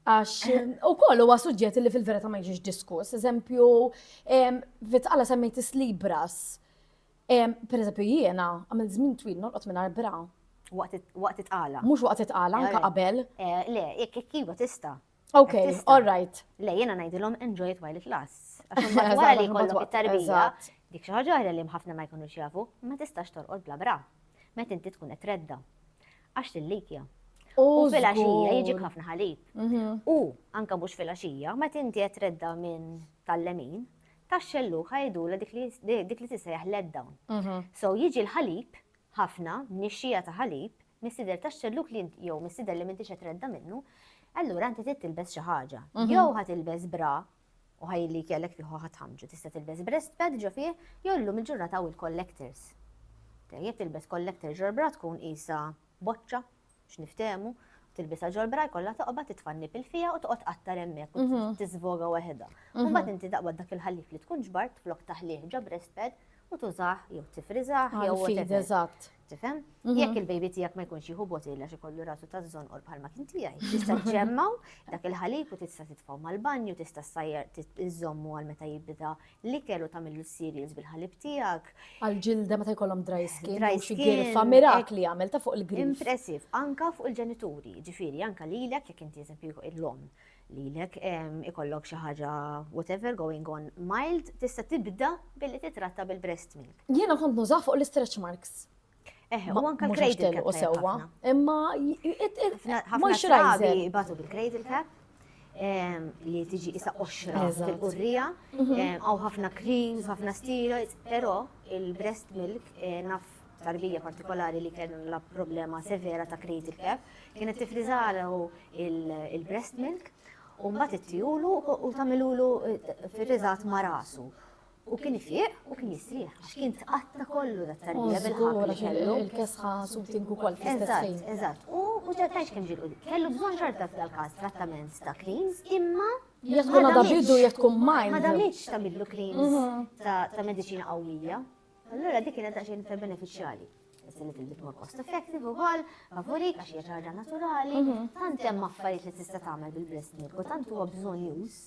Għax, u koll huwa suġġett li fil-verita ma jiġix diskuss, eżempju, vitqala semmejt is-libras. Per eżempju, jiena għamil żmien twil nolqot minn arbra. Waqt it-tqala. Mux waqt it-tqala, anka qabel. Eh, le, jek jek jiva tista. Ok, all right. Le, jiena najdilom enjoy it while it lasts. Għax wara li kollok it-tarbija, dik xi ħaġa li ħafna ma jkunux jafu, ma tistax torqod bla bra. Met inti tkun qed tredda. Għax tillikja. U fil-axija jiġik ħafna ħalib. Mhm. U anka mhux fil-axija, ma tinti qed redda minn tal-lemin, tax-xellu ħajdula dik li tisejjaħ let down. Mhm. So jiġi l-ħalib ħafna nixxija ta' ħalib mis-sider tax-xelluk li jew mis-sider li m'intix qed redda minnu, allura inti tilbes xi ħaġa. Mhm. Jew ħatilbes bra U ħaj li kellek fih ħadd ħamġu tista' tilbes breast pad ġo fih jew illum il-ġurnata hawn il-collectors. Jekk tilbes collector ġol-bra tkun qisha boċċa biex niftehmu, tilbisha ġol-bra jkollha toqba titfa' n-nipil fiha u toqgħod qattar hemmhekk u mhm. tiżvoga waħedha. Mhm. Mbagħad inti taqbad dak il-ħallif li tkun ġbart flok taħlih ġo breast pad u tużah jew tifriżah jew whatever. Eżatt. Tifhem? Jekk il-baby tiegħek ma jkunx jieħu botilla xi kollu rasu ta' żonqor bħalma kien tiegħi, tista' ġemmaw dak il-ħalib u tista' titfgħu mal-banju, tista' sajjar iżommu għal meta jibda l-ikel u tagħmillu cereals bil-ħalib tiegħek. Għal-ġilda meta jkollhom dry skin, dry skin, girfa mirakli għamel ta' fuq il-grif. Impressiv, anka fuq il-ġenituri, ġifieri anka lilek jekk inti eżempju il-lom. lilek ikollok xi ħaġa whatever going on mild tista' tibda billi titratta bil-breast milk. Jiena kont nużah fuq l-istretch marks. Eħe, u anka cradle cap. sewwa. Imma ħafna xrabi batu bil-cradle cap li tiġi isa qoxra fil-qurrija, mhm. għaw ħafna creams, ħafna steroids, pero il-breast milk eh, naf tarbija partikolari li kellha problema severa ta' cradle cap, kienet tifriżalu il-breast milk u mbagħad ittijulu u tagħmilulu firriżat ma' rasu. U kien ifiq u kien jistrieħ, għax kien tqatta kollu dat tarbija bil-ħabba li kellu. Il-kesħa subtin ukoll fl-istess Eżatt, u mhux qed ngħidx kemm ġiel kellu bżonn xorta f'dal-każ trattament ta' creams, imma Jekk tkun għadha bidu jekk tkun mild. Ma damitx tagħmillu creams ta' mediċina qawwija. Allura dik kienet għax inter beneficjali. Issin li bit more cost effective u għal, favori, għax hija ħaġa naturali, mhm. tant hemm affarijiet li tista' tagħmel bil-breast milk u tant huwa bżonn jus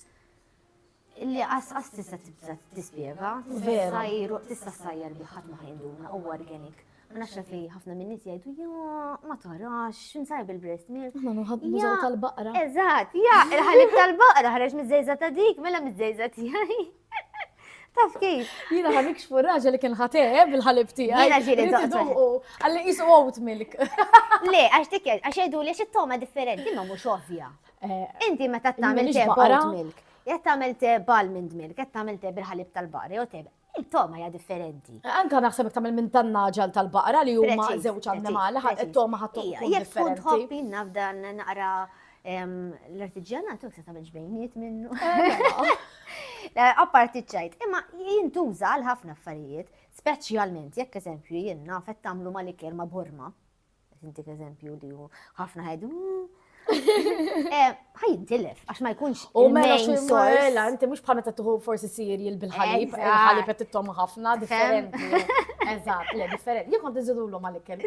li qas tista' tibda tispjega, tista' sajjar bi ħadd ma ħajnduna u organic. Ma nafx li ħafna minn nies jgħidu ja ma tarax x'insar bil-breast milk. Ma nuħab mużaw tal-baqra. Eżatt, ja, il-ħalib tal-baqra ħareġ miż-żejża ta' dik, mela miż-żejża tiegħi. Taf kif? Jina ħan ikxfu raġa li kien ħate eh, bil-ħalib tijaj. Jina ġili doqqa. Għalli jisu oat milk. Le, għax dik, għax jgħidu li xittoma differenti, ma mux ovvja. Eh, Inti ma ta' tamil te oat milk. Jgħat tamil te balmond milk, jgħat tamil te bil-ħalib tal-bari, u te il-toma hija differenti. Eh, anka naħseb jek tagħmel minn tan-naġal tal-baqra li huma żewġ annimali, il-toma ħadd tkun differenti. Jekk tkun tħobb nafdan naqra L-artiġjanat u se tagħmel ġbejniet minnu. Apparti ċajt, imma jintuża għal ħafna affarijiet, speċjalment jekk eżempju jien naf qed tagħmlu mal-ikel ma' burma. Intik eżempju li hu ħafna ħajdu. Ħajintilef, għax ma jkunx. U mela xi sorella, inti mhux bħal meta tuħu forsi sirji bil-ħalib, il-ħalib qed tittom ħafna differenti. Eżatt, le differenti. Jekk kont iżidulhom mal-ikel.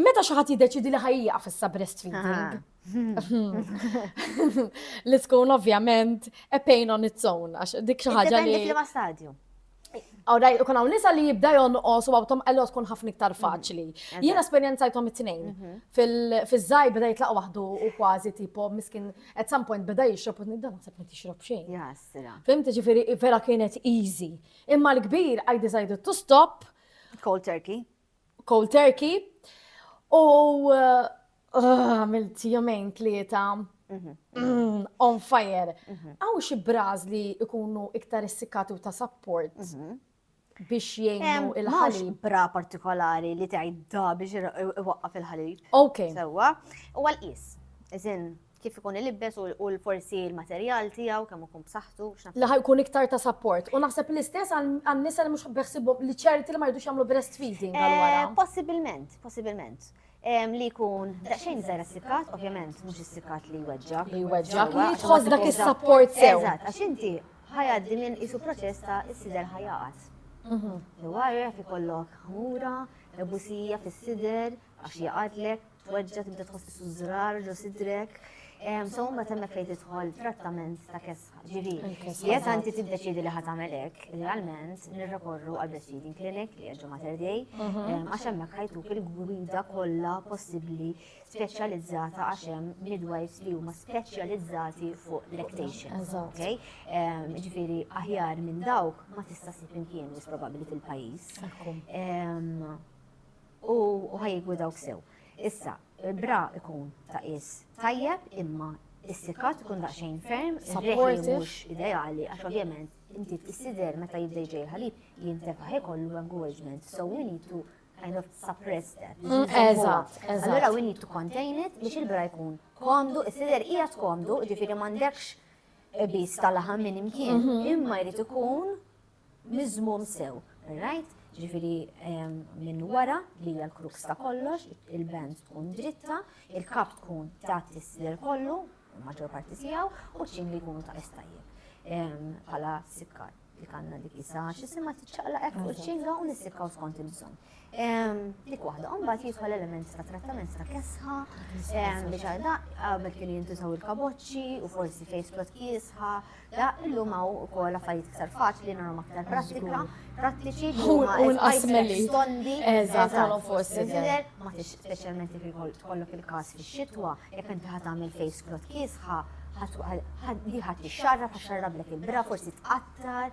Meta xi ħadd jiddeċidi li ħajjieqaf issa breastfeeding. Li tkun ovvjament a pain on its own, għax dik xi ħaġa li. Fil-ma stadju. Għawdaj, kun għaw nisa li jibda jonqos u għawtom għallu tkun ħafna iktar mhm. faċli. Jien esperienzajtom it-tnejn. Mhm. Fil-żaj beda jitlaq waħdu u kważi tipo miskin at some point beda jixrob u nidda naħseb ma tixrob xejn. Jasra. Fimti ġifiri vera kienet easy. Imma l-kbir I decided to stop. Cold turkey. cold turkey u għamilt jumejn tlieta Mhm. Mm, on fire. Mhm. Għaw xi braż li ikunu iktar issikkati u ta' support mhm. biex jgħinu il-ħalib. bra partikolari li tgħidda biex iwaqqaf il-ħalib. Ok. Sewa, u għal-qis. Iżin, kif ikun ilibbes u forsi l-materjal tiegħu kemm ikun b'saħħtu, x'naf. Li ħajkun iktar ta' sapport. U naħseb l-istess għan-nisa li mhux beħsibhom li ċerti li ma jridux jagħmlu breastfeeding għal wara. Eh, possibilment, possibilment. Li jkun daqsxejn żgħar is-sikkat, ovvjament mhux is-sikkat li jweġġa. Li jweġġa, li tħoss dak is-sapport sew. Eżatt, għax inti ħajaddi minn isu proċess ta' is-sider ħajaqat. Mhm. Jew għarref ikollok ħmura, ebusija fis-sider, Għax jaqadlek, tweġġa' tibda tħoss tisu żrar ġo sidrek. So ma temmek fejn tidħol trattament ta' kesħa. Ġivi, jekk anti tiddeċidi li ħatamel hekk, realment nirrekorru għal breastfeeding clinic li għedġu Mater Dei, mhm. għax hemmhekk ħajtuk il-gwida kollha possibbli speċjalizzata għax hemm midwives li huma speċjalizzati fuq lactation. Okay? Ġifieri aħjar minn dawk ma tista' sib imkien probabbli fil-pajjiż. U ħa jikbu dawk sew. Issa, bra ikun ta' is tajjeb imma is-sikat ikun daqsxejn ferm, supportive mhux ideali għax ovvjament inti tissider meta jibda jġej il-ħalib jintefa' ħej kollu engorgement. So we need to kind of suppress that. Mm, eżatt, eżatt. Allora we need to contain it biex il-bra jkun komdu, is-sider hija tkomdu, ġifieri m'għandekx bis tal-laħam minn imkien, mhm. imma jrid ikun miżmum sew, rajt? Ġifiri minn wara li hija l-kruks ta' kollox, il-band tkun dritta, il-kap tkun ta' tisler kollu, maġġor parti tiegħu, u ċin li jkunu ta' estajjeb. Pala sikkar li kanna dik isa, xisima tiċċaqla ekku ċinga u nissikkaw skont il-bżon. Dik waħda, mbagħad jidħol elementi ta' trattament ta' kesħa, biex għal da qabel kien jintużaw il-kaboċċi u forsi face plot kiesħa, da illum hawn ukoll affarijiet iktar faċli nagħmlu aktar prattika, prattiċi u l-qasmeli stondi eżattament forsi tidher ma tix speċjalment jekk tkollok il-każ fix-xitwa jekk inti ħad tagħmel face plot kiesħa ħad li ħadd ixxarrab ħaxxarrablek il-bra forsi tqattar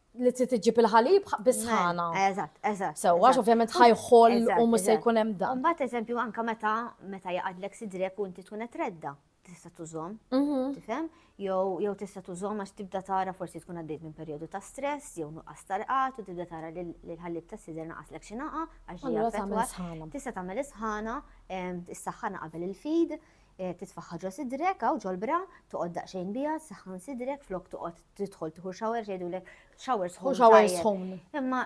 li trid iġġib il-ħalib bis-sħana. Eżatt, eżatt. Sewwa, għax ovvjament ħajħol u mhux se jkun hemm dan. Mbagħad eżempju anke meta meta jaqadlek sidrek u inti tkun qed redda, tista' tużhom, mhm. tifhem? Jew jew tista' tużhom għax tibda tara forsi tkun għaddejt minn perjodu ta' stress jew nuqqas tarqat u tibda tara li l-ħallib ta' sidra naqaslek xi naqa għax ġejja Tista' tagħmel is-sħana, is-saħħana qabel il-fid, titfagħha ġo sidrek hawn ġol-bra, toqgħod daqsxejn biha, ssaħħan sidrek flok toqgħod tidħol tieħu shower jgħidulek shower sħun. Shower sħun. Imma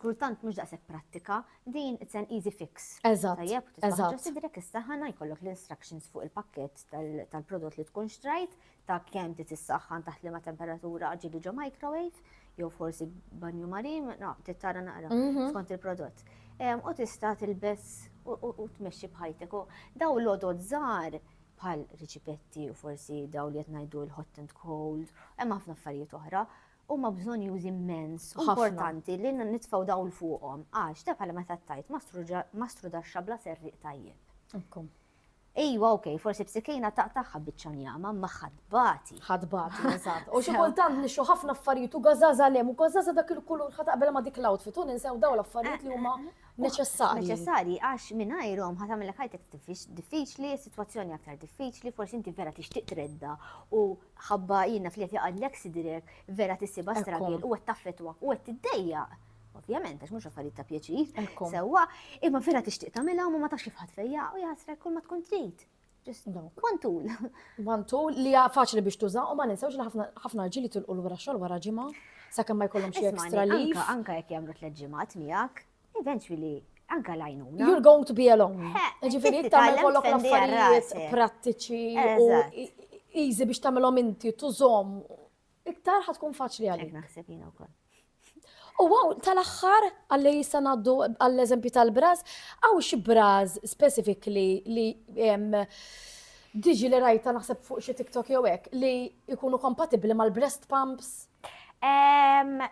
kultant mhux daqshekk prattika, din it's an easy fix. Eżatt. Tajjeb, titfagħha ġo sidrek issaħħana jkollok l-instructions fuq il-pakkett tal-prodott li tkun xtrajt, ta' kemm trid issaħħan taħt liema temperatura ġieli ġo microwave, jew forsi banju marin, no, tittara naqra mhm. skont il-prodott. U tista' tilbes u tmexxi bħajtek. U daw l-odod żgħar bħal riċipetti u forsi daw li qed ngħidu l-hot and cold, hemm ħafna affarijiet oħra huma bżonn już immens u importanti li nitfgħu dawl fuqhom għax ta' bħala meta tajt ma strudaxxa bla serriq tajjeb. Ejwa ok, forsi b'sikejna taqtagħha biċċa njama, imma ħa tbati. Ħa tbati, eżatt. U xi kultant nixtru ħafna affarijiet u gażaża lem, u gażaża dak il-kulur ħa taqbel ma' dik l-outfit u ninsew daw l-affarijiet li huma neċessarji. Neċessarji għax mingħajrhom ħa tagħmilek ħajtek diffiċli, sitwazzjoni aktar diffiċli, forsi inti vera tixtieq tredda u ħabba jiena fli qed jaqgħadlek sidrek vera tissibha stragil u qed taffetwa u qed tiddejjaq. ovvjament, għax mhux affarijiet ta' pjaċir, sewwa, imma vera tixtieq tagħmilha u ma tax kif ħadd fejja u jaħsrek kull ma tkun trid. Just one tool. One tool li faċli biex tuża u ma ninsewx li ħafna ġili tilqu l-wara xogħol wara ġimgħa sakemm ma jkollhom xi extra li. Anka jekk jagħmlu tliet ġimgħat miegħek, eventually anka lajnuna. You're going to be alone. Ġifieri tagħmel kollok l-affarijiet prattiċi u easy biex tagħmilhom inti tużhom iktar ħad tkun faċli għalik. Hekk naħseb jiena wkoll. U għaw, tal-axħar, għalli jissa naddu għall-eżempju tal-braz, għaw xi braz specifik li li diġi li rajta naħseb fuq xi TikTok jew hekk li jkunu kompatibbli mal-breast pumps?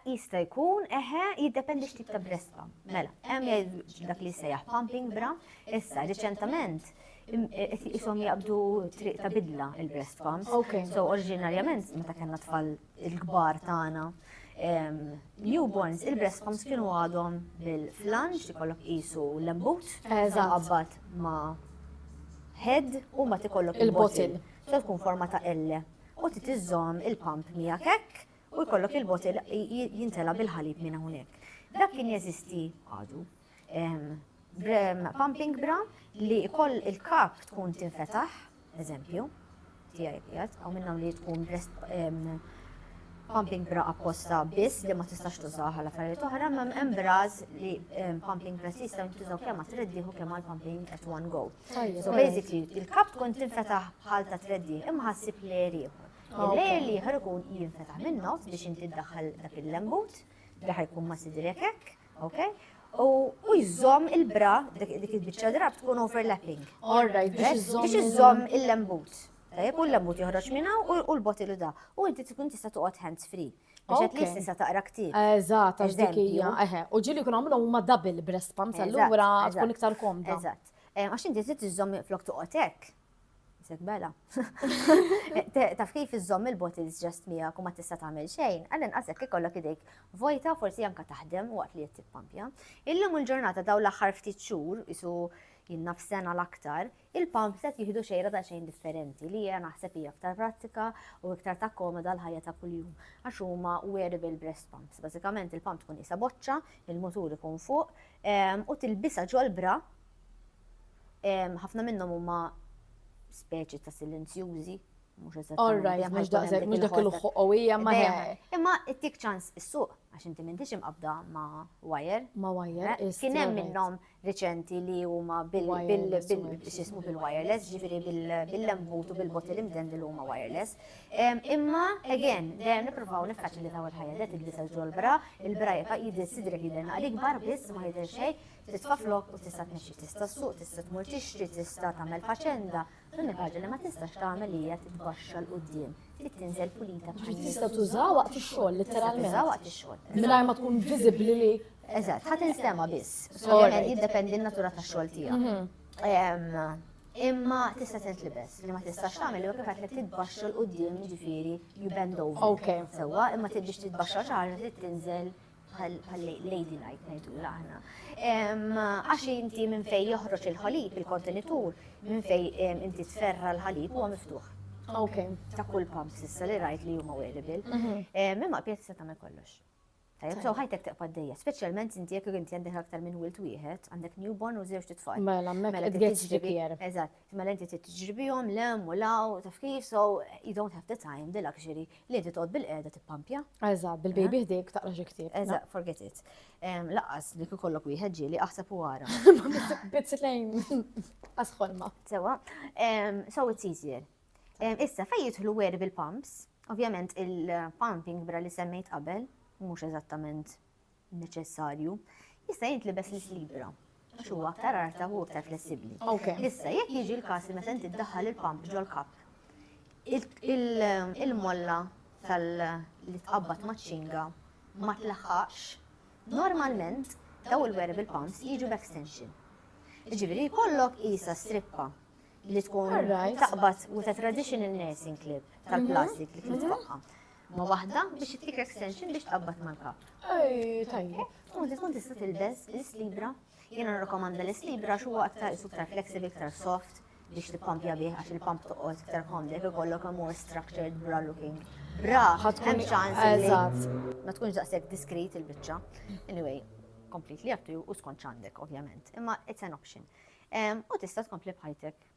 Jista jkun, eħe, jiddependi x'tip ta' breast pump. Mela, hemm dak li sejjaħ pumping bra, issa riċentament jisom jaqbdu triq ta' bidla il-breast pumps. Okay. So oriġinarjament meta kellna tfal il-kbar tagħna newborns il-breast pumps kienu għadhom bil-flanġ li kollok qisu l-embut qabbat ma' head u ma tikollok il-botil. Se tkun forma ta' L. U titiżżomm il-pump miegħek hekk u jkollok il-botil jintela bil-ħalib minn hawnhekk. Dak kien jeżisti għadu. pumping bra li koll il-kap tkun tinfetaħ, eżempju, tijaj pijat, għaw minna li tkun pumping bra apposta biss li ma tistax tużaw għal affarijiet oħra, ma hemm bras li pumping bras jista' jintużaw kemm għat treddi u kemm għal pumping at one go. So basically, il-kap tkun tinfetaħ bħal ta' treddi imma ħassib li jriħu. Il-lejer li jħor ikun jinfetaħ minn nofs biex inti ddaħħal dak il-lembut, li ħajkun ma' sidrek hekk, Ok? U u jżomm il-bra, dik dik il-biċċa drab tkun overlapping. All right, biex Biex iżżomm. biex iżżomm il-lembut. Tajjeb, u l-lembut joħroġ minn hawn u- u l-botilu da. U inti tkun tista' toqgħod hands free. Biex qed Ok. li tista' taqra ktieb. Eżatt, għax dik Eżempju. hija. Eħe, u ġili jkun għamlu huma double breast pumps, Eżatt, allura eżatt, tkun iktar komda. Eżatt. Eh, Għax inti trid iżżomm flok toqgħod hekk. Isek bela. Taf kif iżżomm il-bottles ġest miegħek u ma tista' tagħmel xejn, għal inqasek ikollok idejk vojta forsi anka taħdem waqt li qed tippampja. Illum il-ġurnata daw l-aħħar ftit xhur isu jinna f'sena l-aktar, il-pump set jihdu xejra ta' xejn differenti li hija naħseb hija aktar prattika u iktar ta' komoda l-ħajja ta' kuljum għax huma wearable breast pumps. Bażikament il-pump tkun isa boċċa, il-mutur ikun fuq u tilbisa ġol-bra Ħafna minnhom huma speċi ta' silenzjużi, mhux eżatt. All right, mhux daqshekk, mhux dak il-ħuq qawwija ma Imma ittik ċans is-suq għax inti m'intix imqabda ma' wire. Ma' wire. Eh, kien hemm minnhom riċenti li huma bil-xismu bil-wireless, ġifieri bil-lembut u bil-bottle imden li huma wireless. Imma, again, dejjem nippruvaw nifkaċ li daw il-ħajja li tidbis għal ġol-bra, il-bra jibqa' jidil sidrek jidil naqli kbar biss ma jidil xejn. Titfa' flokk u tista' tmexxi, tista' ssuq, tista' tmur tixtri, tista' tagħmel faċenda. L-unika ħaġa li ma tistax tagħmel hija titbaxxa 'l quddiem, trid tinżel pulita bħal Ġifieri tista' tużaha waqt ix-xogħol litteralment. Tista' tużaha waqt ix-xogħol. Mingħajr ma tkun viżibbli li. Eżatt, ħa tinstema' biss. Ovvjament jiddependi n-natura tax-xogħol tiegħek. Imma tista' tintlibes. Li ma tistax tagħmel huwa kif għedtlek titbaxxa 'l quddiem jiġifieri you bend over. Sewwa, imma tridx titbaxxa xi ħaġa trid tinżel bħal lady night ngħidula aħna. Għax inti minn fej joħroġ il-ħalib, il-kontenitur, minn fej inti tferra l-ħalib huwa miftuħ. Ok. Ta' kull pump sissa li rajt li huma wearable. Mhm. Imma pjazza ta' me kollox. Tajab, so ħajtek teqpa d-dejja, specialment inti jek inti għandek aktar minn wilt wieħed, għandek newborn u zewġ titfal. Mela, mela, it gets trickier. Eżatt. Imma l-inti trid tiġri bihom lem u law, taf kif, so you don't have the time, the luxury, li inti toqgħod bil-qiegħda tippampja. Eżatt, bil-baby eh? ħdejk taqra xi ktieb. Eżatt, forget it. Laqqas li kikollok wieħed ġieli aħseb u wara. Bit lejn asħolma. Sewa, so it's easier. Issa fejn jidħlu weri bil-pumps, ovvjament il-pumping bra li semmejt qabel, mhux eżattament neċessarju, jista' jint libes lis libra għax huwa aktar arta u aktar flessibbli. Issa jekk jiġi l-każ li meta inti ddaħħal il-pump ġol-kap, il-molla tal-li tqabbad maċ-ċinga ma tlaħħaqx, normalment daw il-wearable pumps jiġu b'extension. Ġifieri jkollok isa strippa li tkun taqbad with a traditional nursing clip tal-plastik li kien tfaqqa. Ma waħda biex ittik extension biex tqabbad mal-kap. Ej, tajjeb. Tkun tkun tista' tilbes l-islibra. Jiena nirrakomanda l-islibra xu aktar iktar flexible, iktar soft biex tippampja bih għax il-pump toqgħod iktar komdek ikollok a more structured bra looking. Bra, hemm ċans. Eżatt. Ma tkunx daqshekk diskret il-biċċa. Anyway, completely up to you u skont ċandek, ovvjament. Imma it's an option. U tista' tkompli bħajtek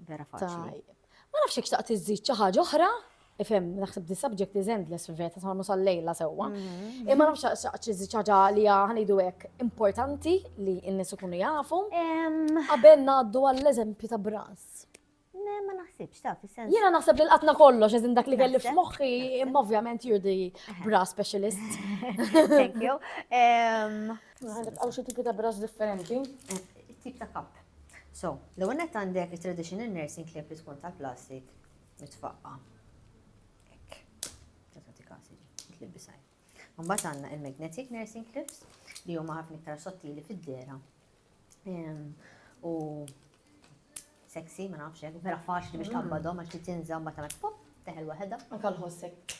Vera faċli. Ma nafx jekk xtaqt iżżid xi ħaġa oħra, ifhem naħseb the subject is endless fil-veta sa nusal lejla sewwa. Mm-hmm. Imma nafx xtaqt iżżid xi ħaġa li ħanidu hekk importanti li n-nies ikunu jafu. Qabel ngħaddu għall-eżempju ta' bras. Ma naħsibx ta' fis-sens. Jiena naħseb li l-qatna kollox eżin dak li kelli f'moħħi, imma ovvjament you're the bra specialist. Thank you. Għaw xi tipi ta' bras differenti? Eh, tip ta' kap. So, l-ewwel nett għandek it-traditional nursing clip li tkun tal-plastik mitfaqqa. Ekk. Tata ti kasi ġi, bisaj. Mbagħad għandna il-magnetic nursing clips li huma ħafna iktar sottili fid-dera. Ehm, u sexy, ma nafx hekk, vera faċli biex mm. tabbadhom għax li tinża mbagħad tagħmel pop, teħel waħedha. Anke l-ħossek.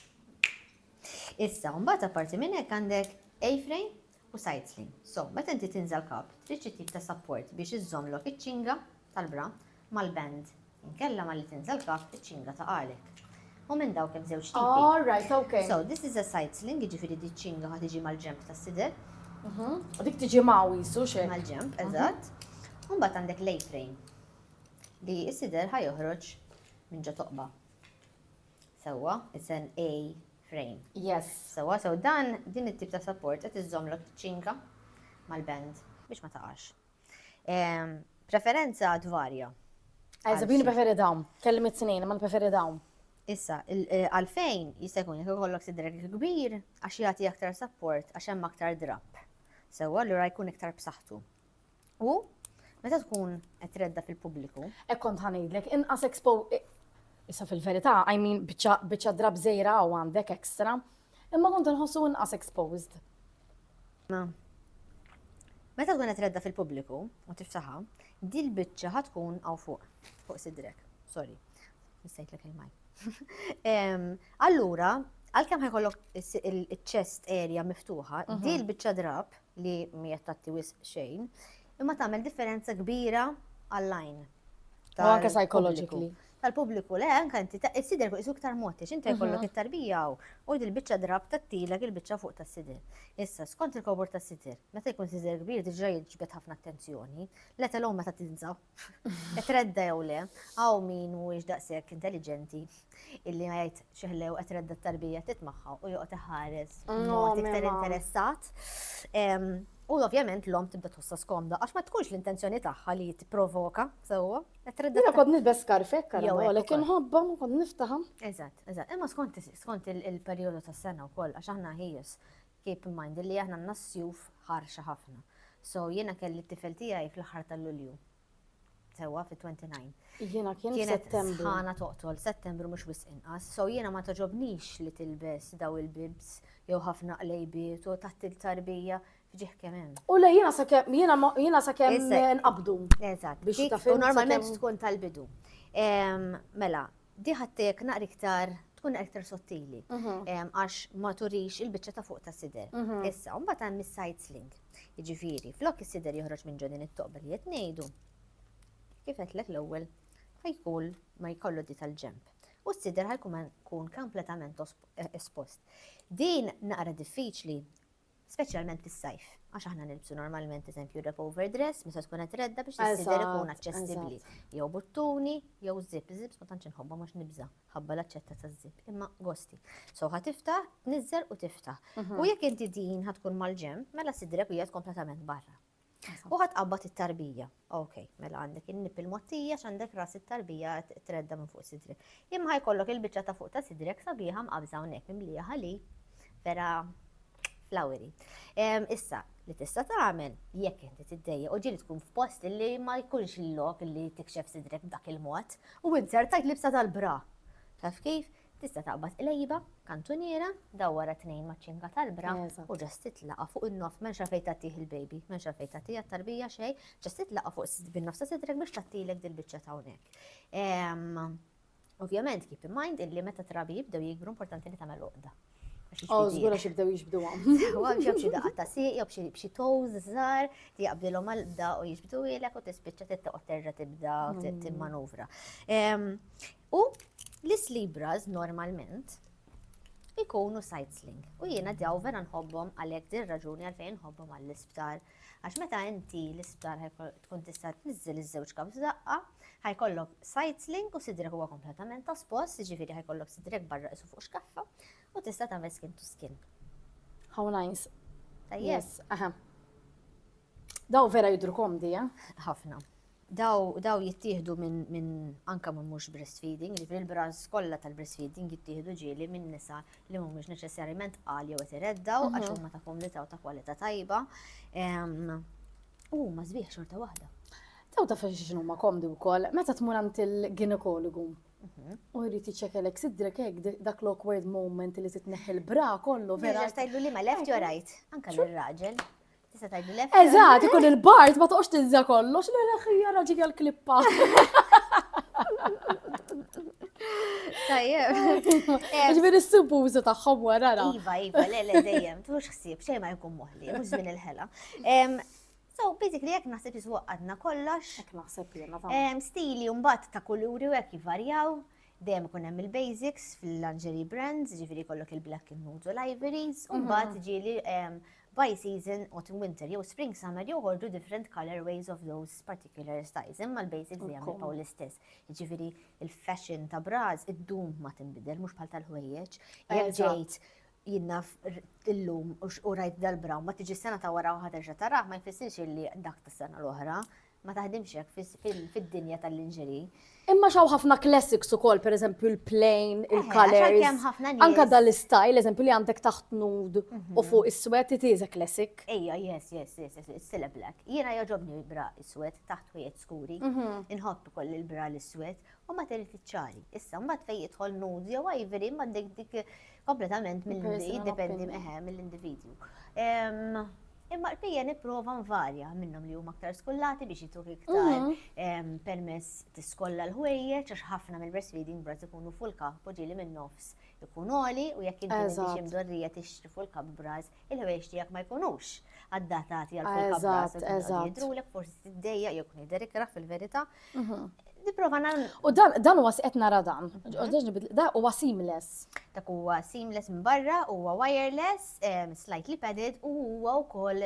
Issa, mbagħad apparti minn hekk għandek A-frame u sajtzli. So, meta inti tinżel kap, trid xi tip ta' sapport biex iżżommlok iċ-ċinga tal-bra mal-band. Inkella malli tinżel kap, iċ-ċinga taqagħlek. U minn dawk hemm żewġ tipi. All right, okay. So, this is a side-sling, jiġifieri di ċinga ħa tiġi mal-ġemp tas-sider. Mhm. U dik tiġi maw jisu xejn. Mal-ġemp, mhm. eżatt. U mbagħad għandek l-A-frame li s-sider ħa joħroġ minn ġo toqba. Sewwa, it's an A frame. Yes. Sewwa, so dan din it-tip ta' support qed iżżommlok tiċċinka mal-band biex ma taqax. Ehm, preferenza tvarja. Għazza, bini preferi dawn. Kellim it-tnejn, ma preferi dawn. Issa, eh, għalfejn jista' jkun jekk ikollok sidrek kbir għax jagħti aktar support għax hemm aktar drab. Sewwa allura jkun iktar b'saħħtu. U meta tkun qed tredda fil-pubbliku. Hekk kont ħanejdlek, inqas expo Issa fil-verità, I mean, biċċa drab żejra u għandek ekstra, imma kont nħossu inqas exposed. Ma. Meta tkun qed redda fil-pubbliku u tiftaħa, dil biċċa ħad tkun hawn fuq, fuq sidrek. Sorry, nistejt lek il-maj. Allura, għalkemm ħajkollok il-chest area miftuħa, mhm. dil biċċa drab li mhijiex tagħti wisq xejn, imma tagħmel differenza kbira għall-għajn. U anke psychologically. Tal-pubbliku le, anke inti sidel fuq isu iktar mod, għax inti jkollok mhm. it-tarbija u il-biċċa drab tattilek il-biċċa fuq tas-sidel. Issa, skont il-kobor tas-sidel, meta jkun sidel kbir diġà jiġbed ħafna attenzjoni, let alone meta tinżab Qed redda jew le, hawn min mhuwiex daqshekk intelliġenti illi ma jgħid xi ħlew qed redda t-tarbija tit magħha u joqgħod iħares mm, mod iktar interessat. U ovvjament l-om tibda tħossa skomda, għax ma tkunx l-intenzjoni tagħha li jitprovoka, sewwa. Jina kod nilbes skarfek, għara, kim ħabba, ma kod niftaħam. Eżat, eżat, imma skont il-periodu tas sena u koll, għax aħna ħijus, Keep in mind illi aħna għandna s-sjuf ħarxa ħafna. So jiena kelli t-tifel tiegħi fl-aħħar ta' Lulju. Sewwa fit-29. Jiena kien Kienet Settembru. sħana toqtol, Settembru mhux wisq inqas. So jiena ma toġobnix li tilbes daw il-bibs jew ħafna qlejbiet u taħt il-tarbija fġieħ kemm hemm. U le jiena sakemm jiena ma- jiena sakemm Issa- nqabdu. Eżatt. Biex Dik- taf u int normalment sakemm- tkun tal-bidu. Em, Mela, Di ħattek naqra iktar tkun naqra iktar sottili mhm. għax ma turix il-biċċa ta' fuq ta' sider. Mhm. Issa, mbagħad hemm is-side sling. Jiġifieri, flok is-sider joħroġ minn ġodin it-toqba li qed ngħidu. Kif qedlek l-ewwel ħajkun ma jkollu di tal-ġemp. U s-sider ħajkun kun kompletament espost. Din naqra diffiċli speċjalment fis-sajf, għax aħna nilbsu normalment eżempju rep overdress meta tkun qed redda biex is-sider ikun aċċessibbli, jew buttuni, jew żip, żips ma tantx inħobbhom għax nibża' ħabba l-aċċetta taż-żip, imma gosti. So ħa tiftaħ, tniżżel u tiftaħ. Mhm. U jekk inti din ħa tkun mal-ġenb, mela sidrek hija kompletament barra. U ħadd qabbad it-tarbija. Ok, mela għandek in-nip il-mottija x'għandek ras it-tarbija tredda minn fuq sidri. Imma ħajkollok il-biċċa ta' fuq ta' sidrek sabiħa mqabża hawnhekk mimlija ħali vera flaweri. Issa, li tista' tagħmel jekk inti tiddejja u ġieli tkun f'post li ma jkunx il-lok li tikxef sidrek b'dak il-mod u inzertajt libsa tal-bra. Taf kif? Tista' taqbad qlejba, kantuniera, dawwar għat-tnejn maċ-ċinga tal-bra u ġast titlaqqa' fuq in-nofs m'hemmx għalfejn tgħattih il-baby, m'hemmx għalfejn tgħattih għat-tarbija xejn, ġast titlaqqa' fuq bin-nofs ta' sidrek biex tgħattilek dil-biċċa ta' hawnhekk. Ovvjament keep in mind illi meta trabi jibdew jikbru importanti li tagħmel uqda. Oh, zgur għax jibdew jiġbdu għam. Għam xie bxie daqqa ta' siq, jow bxie toz zar, ti jaqbdilom għal-bda u jiġbdu ilek u tispiċċa tittaqot terġa tibda timmanuvra. U l-islibras normalment ikunu sightseeing. U jiena daw vera nħobbhom għalhekk din raġuni għalfejn nħobbhom għall-isptar. Għax meta inti l-isptar tkun tista' tniżżel iż-żewġ kap f'daqqa, ħajkollok sightseeing u sidrek huwa kompletament ta' spost, jiġifieri ħajkollok sidrek barra isu fuq xkaffa u tista' tagħmel skin to skin. How nice. Yes, aha. Daw vera jidru komdi, eh? Ħafna. Daw, daw jittieħdu minn min anka minn mhux breastfeeding, ġifieri l-brands kollha tal-breastfeeding jittieħdu ġieli minn nisa li mhumiex neċessarjament qal jew qed ireddaw għax mhm. huma ta' kumdità u ta' kwalità tajba. U ma sbieħ xorta waħda. Taw ta' fejn xinu ma komdu wkoll, meta tmur għand il-ginekologu. Mhm. U jrid iċċekelek sidrek hekk dak l-awkward moment li titneħħi l-bra kollu vera. Tajlu li ma left jew right, anke l-raġel. Tista' tgħidlu lef. Eżatt, ikun il-bard ma toqgħodx tinża kollox, le le ħija raġi għall-klippa. Tajjeb. Ġviri s-subużu taħħom wara. Iva, iva, le, le, dejjem, tux xsib, xej ma jkun moħli, mux zmin il-ħela. So, basically, jek naħseb jiswa għadna kollox. Jek naħseb jena ta' Stili un-bat ta' kuluri u jek jivarjaw. Dejjem kun hemm il-basics fil-lingerie brands, ġifiri kollok il-black and nude u l-ivories, un-bat mm-hmm. ġili by season, autumn winter jew spring summer joħorġu different colour ways of those particular styles imma l-basics dejjem jibqgħu l-istess. Jiġifieri il-fashion ta' bras iddum ma tinbidel mhux bħal tal-ħwejjeġ. Jekk ġejt jinnna illum u rajt dal-bra ma tiġi sena ta' wara u ħaterġa' tarah ma jfissirx li dak tas-sena l-oħra. Ma taħdimx hekk fid-dinja tal-linġeri. Imma xaw ħafna classics ukoll, per eżempju l-plain, eh, il-colors. Anka dal-istyle, eżempju li għandek taħt nud u mhm. fuq is-swet, it is a classic. Ejja, yes, yes, yes, yes, it's still a black. Jiena joġobni l-bra is-swet taħt ħwejjet skuri. Mhm. Inħobb ukoll il-bra l-iswet u ma terit iċċali. Issa, mbagħad fejn jidħol nudes jew ivory, ma dik dik kompletament mill-dipendi eħe mill-individwu. Imma l-pija nipprova nvarja minnhom li huma aktar skollati biex jituk iktar mhm. permess tiskolla l-ħwejjeġ għax ħafna mill-breastfeeding brat ikunu full cup u ġieli minn nofs ikun oli u jekk inti biex imdorrija tixtri full cup bras il-ħwejjeġ tiegħek ma jkunux addatati għal kull Eżatt, eżatt. Jidrulek forsi tiddejja jew kun jidher ikrah fil-verità. Mhm. Nipprova nagħmel. U dan dan huwa qed nara dan. Mhm. Da huwa seamless. Dak huwa seamless minn barra, huwa wireless, slightly padded u huwa wkoll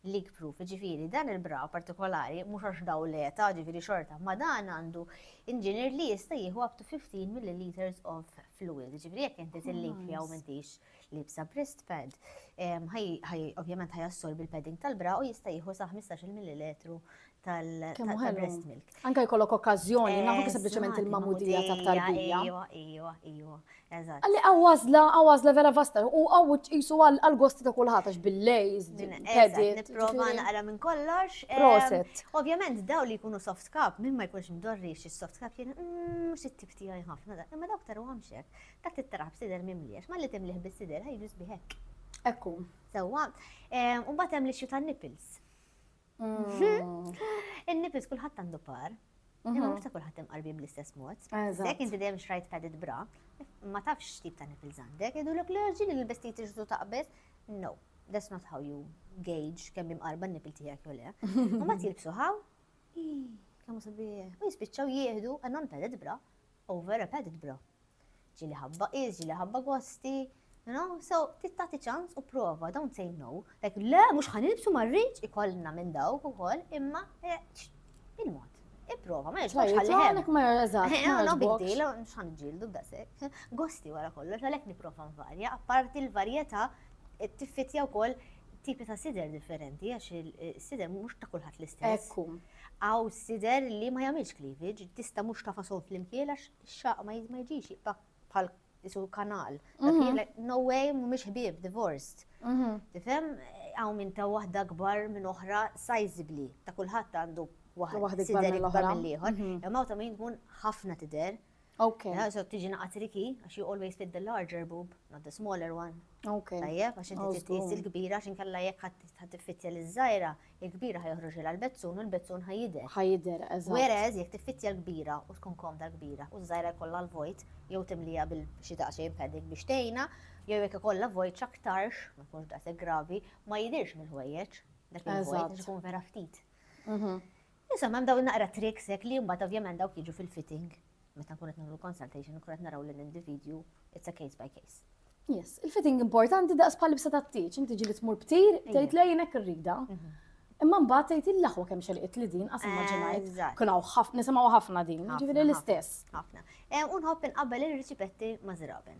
leak proof, ġifiri, dan il-bra partikolari, mux għax daw leta, ġifiri xorta, ma dan għandu inġinier li jista jieħu up to 15 milliliters of fluid, ġifiri jek inti t-link fija u mintix libsa breast pad, ovvjament ħaj assorbi l-padding tal-bra u jista' jieħu sa 15 millilitru tal-breast milk. Anka jkollok okkażjoni, nafu sempliċement il-mamudija ta' tarbija. Ejwa, ejwa, ejwa. Eżatt. Għalli għawazla, għawazla vera vasta, u għaw jisu għal-gosti ta' kullħat, għax bil-lejz, bil-pedit. Niprofa naqra minn kollox. Proset. Ovvjament, daw li jkunu soft cup, minn ma jkunx mdorri xie soft cup, jien, mux mm, it-tip tijaj ħafna, imma dawk taru għamxek. Tagħti t-taraq b'sider mimli għax malli timlih bis-sider ħa jiġu sbieħ hekk. Hekk hu. Sewwa. Ehm, u mbagħad hemm l-issue tan-nipples. Mm. In-nipples kulħadd għandu par. Imma mm-hmm. mhux ta' kulħadd imqarbin bl-istess mod. Jekk inti dejjem xrajt padded bra, ma tafx tip ta' nipples għandek, idu l-ok l-ġin li l-bestijiet iġdu taqbeż. No, that's not how you gauge kemm imqarba n-nipil tiegħek jew le. U ma tilbsu ħaw, kemm sabiħ, u jispiċċaw jieħdu għannon padded bra. Over a padded bra. Ġieli ħabba qis, ġieli ħabba gwasti, you know, so trid tagħti ċans u prova, don't say no. Like, le, mhux ħa nilbsu ma rridx ikollna minn dawk ukoll, imma eh, ċ- il-mod. Ipprova, ma jogħġbokx ħalli hemm. Għalek ma eżatt, Eh, ma no, no big jogħġbokx. deal, mhux ħan ġildu b'dasek. Gosti wara kollox, għalhekk nipprova nvarja, apparti l-varjetà eh, tiffitja wkoll tipi ta' sider differenti, għax il-sider mhux ta' kulħadd l-istess. Ekku. Għaws jidher li ma jagħmilx cleavage, tista' mhux tafasom flimkien għax ix-xaq ma jiġix jiqta' bħal isu kanal. No way, mhumiex ħbieb, divorced. Tifhem, hawn minn ta' waħda kbar minn oħra sizably, ta' kulħadd għandu waħda tidher ikbar mill-ieħor, imma ta' min tkun ħafna tidher. Okay. Yeah, so tiġi naqat riki, għax you always fit the larger boob, not the smaller one. Okay. Tajjeb, għax inti titqis il-kbira, għax inkella jekk ħadd tiffittja l-żgħira, il-kbira ħajħroġ il bezzun u l-bezzun ħajider. Ħajider, eżatt. Whereas jekk tiffittja l-kbira u tkun komda l-kbira u żgħira jkollha l-vojt, jew timlija bil xi daqsxejn padding biex tgħinha, jew jekk ikollha vojt x'aktarx, ma jkunx daqshekk gravi, ma jidirx mill-ħwejjeġ. Dak il-vojt ikun vera ftit. Mhm. Insomma, hemm dawn naqra tricks hekk li mbagħad ovvjament dawk jiġu fil-fitting meta nkunu qed nagħmlu consultation nkunu qed naraw lill-individwu it's a case by case. Yes, il-fitting importanti daqs bħal libsa tat-tieġ, inti ġili tmur btir, tgħid lejn hekk irrida. Mhm. Imma mbagħad tgħid il-laħwa kemm xelqit li din qas immaġinajt. Kun hawn ħafna nisimgħu ħafna din, ġifieri l-istess. Ħafna. Eh, u nħobb inqabbel ir-riċipetti ma' żraben.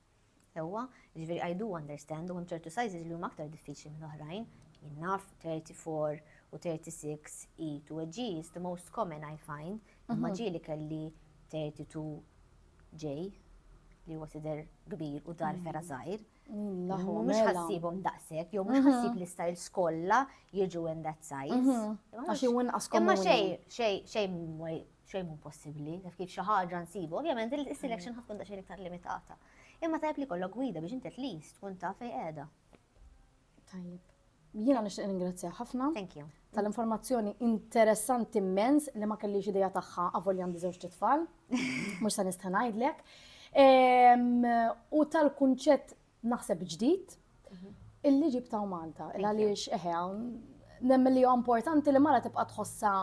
Sewwa, jiġifieri I do understand u hemm ċertu sizes li huma aktar diffiċli minn oħrajn. Jien naf 34 u 36 E to a G is the most common I find, imma mhm. ġieli kelli 32 J li huwa tidher kbir u dar ferra żgħir. Mhux ħassibhom daqshekk, jew mhux ħassib li stajl skolla jiġu in that size. Għax jew inqas Imma xejn xejn xejn xejn mhu possibbli, taf kif xi ħaġa nsibu, ovvjament il-selection ħatkun ta' xejn iktar limitata. Imma tajb li kollok gwida biex inti least tkun ta' fej qiegħda. Tajjeb. Jiena nixtieq ningrazzja ħafna. Thank you. Tal-informazzjoni interessanti immens li ma kellix idea tagħha avolja għandi żewġ tfal. Mhux se nista' ngħidlek. U tal-kunċett naħseb ġdid illi ġibtaw Malta. Għaliex eħe hawn nemmen li huwa importanti li mara tibqa' tħossha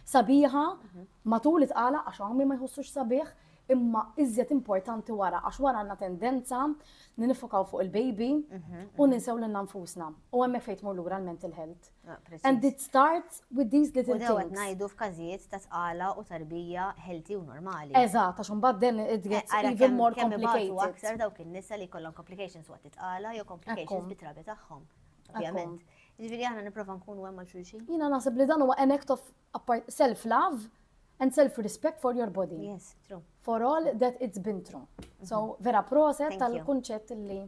sabiħa mhm. matul it-tqala għax hawn ma jħossux sabiħ imma iżjed importanti wara għax wara għandna tendenza li nifokaw fuq il-baby mhm, u mhm. ninsew lil nfusna. U hemmhekk fejn tmur lura l-mental health. Ah, And it starts with these little things. U dewet najdu f'każijiet ta' tqala u tarbija healthy u normali. Eżatt, għax imbagħad then it gets eh, even more complicated. Aktar dawk in-nisa li kollhom complications waqt it-tqala jew complications bit-trabi tagħhom. Ovvjament. Ġifieri aħna nipprova nkunu hemm għal xulxin. Jiena naħseb li dan huwa an act of self-love and self-respect for your body. Yes, true. For all that it's been through. So, mhm. vera proset tal-kunċett li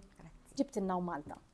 ġibtinna u Malta.